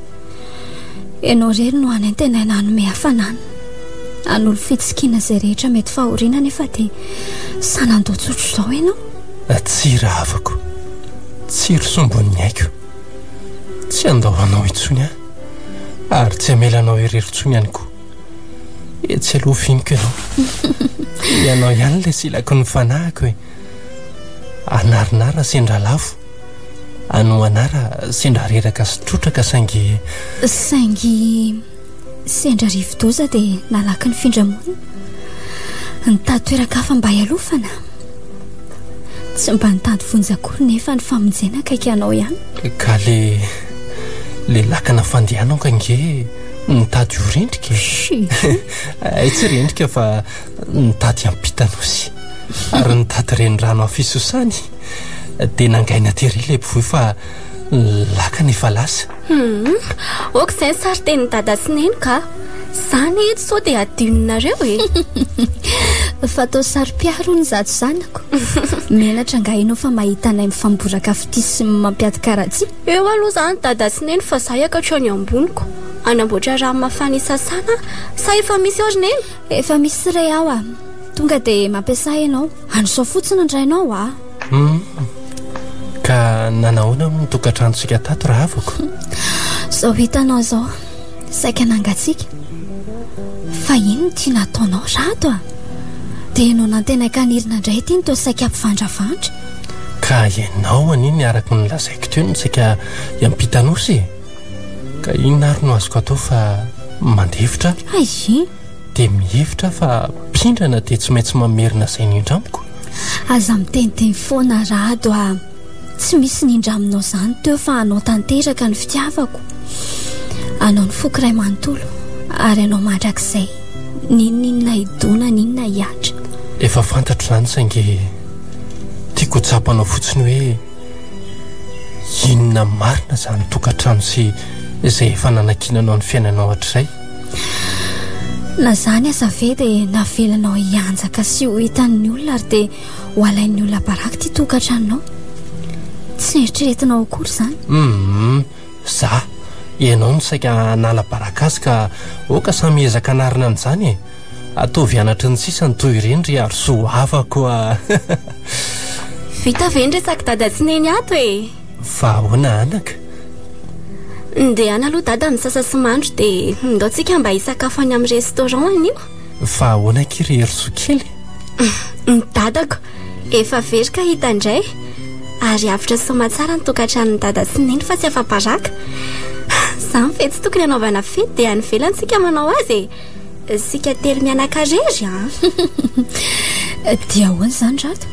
Ianao irery no hanentenaina hanome hafanana hanolo fitsikiana izay rehetra mety fahoriana nefa dia sanandoha tsotro izao ianao atsira havako tsiry sombon'ny aiko tsy andao anao intsony aho ary tsy amelanao irery intsony ihany koa etsy aloha finiko ianao ianao ihany ilay silako ny fanahiko e anarinara sendra lafo Ano anara sendra reraka sy trotraka saingy Saingy sendra rivodoza dia nalaky ny findramonina Nitady toeran-kafa mba hialofana Tsy mba nitady vonjy akory nefa ny famonjena akaiky anao ihany Ka le le lakana fandehanao ka nge nitady ho rendrika Ay tsy rendrika fa nitady ampitanao sy Ary nitady renirano afisosany Dia nangaina tery ilay mpivoy fa lakana efa lasa. Hmm, ok izay ny sarin-tenin'i dada sy neny ka. Izany edy sao dia adinonareo e. Fa atao saropiaro hono izato zanako. Menatra angaha ianao fa mahita anay mifamboraka fitia sy mampiady karatsy? Eo aloha izany dada sy neny fa izaho hiaka hatrany amboniko. Hanamboatra rano mafana hisasana aho. Sa efa misy ao ry neny? Efa misy re ao a. Tonga dia mampiasa ianao. An'izao fotsiny ny rainao a. Hmm. Ka nanahoana moa ny tokantranontsika tato raha avoko? Zao hitanao zao, saika nangatsiaka. Fa ino no tiana ataonao rato a? Dia no nantenaka anirina indray ity ny toa saika mpivandravandra. Ka ianao anie ny araka ny lazaiko teo no saika hiampita nosy e. Ka inona ary no azoko atao fa mandefitra. Hay! dia mihevitra aho fa mpindrana dia tsy maintsy mamerina izay nindra amiko. Aza miteniteny foana Rado a! Tsy misy nindra aminao izany teo fa anao tanteraka ny fitiavako. Anao ny foko iray manontolo ary anao mandrakizay. N'inon'inona hidona, n'inona hihatra. Efa fantatro izany saingy tiako ho tsapanao fotsiny hoe inona marina izany tokantrano sy izay efa nanakiananao ny fiainanao hatrizay. Na zany aza ve dia navelanao hianjaka sy ho hitan'ny olona ary dia ho alain'ny olona baraky ty tokatranonao tsy eritreretinao akory zany um za ianao no saika hanala baraka azy ka oka samy ezaka anarina an'izany e ataovy anatry ny sisa ny toy ireny ry arosoa havako a vita ve ny resak'i dada sy neny ato e Fa ahoana anaka? Ndehana aloha dada misasa sy mandro dia ndao tsika mba hisakafo any amin'ny restaurant anio. Fa ahoana akia ry Herizou kely? Ny dadako efa very ka hita indray ary avotra soma tsara ny tokantranon'i dada sy neny fa tsy afa-baraka. Izany ve tsy tokony hanaovana fety dia any ivelany isika manao azy e? Isika telo mianakarery an. Ah. Dia ahoana izany rato?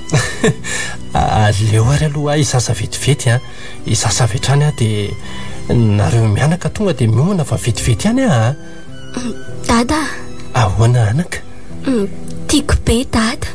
Aleo ary aloha hisasa vetivety an. Hisasa avy hatrany aho dia nareo mianaka tonga dia miomana fa vetivety ihany aho an. Dada. Ahoana anaka? Tiako be dada.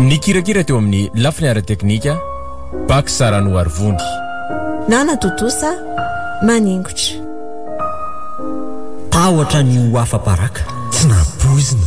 Nikirakira teo amin'ny lafiny ara-teknika, Pax Saranoarivony. Nanatontosa maningotra. Tahotra ny ho afa-baraka, tsy nampoizina.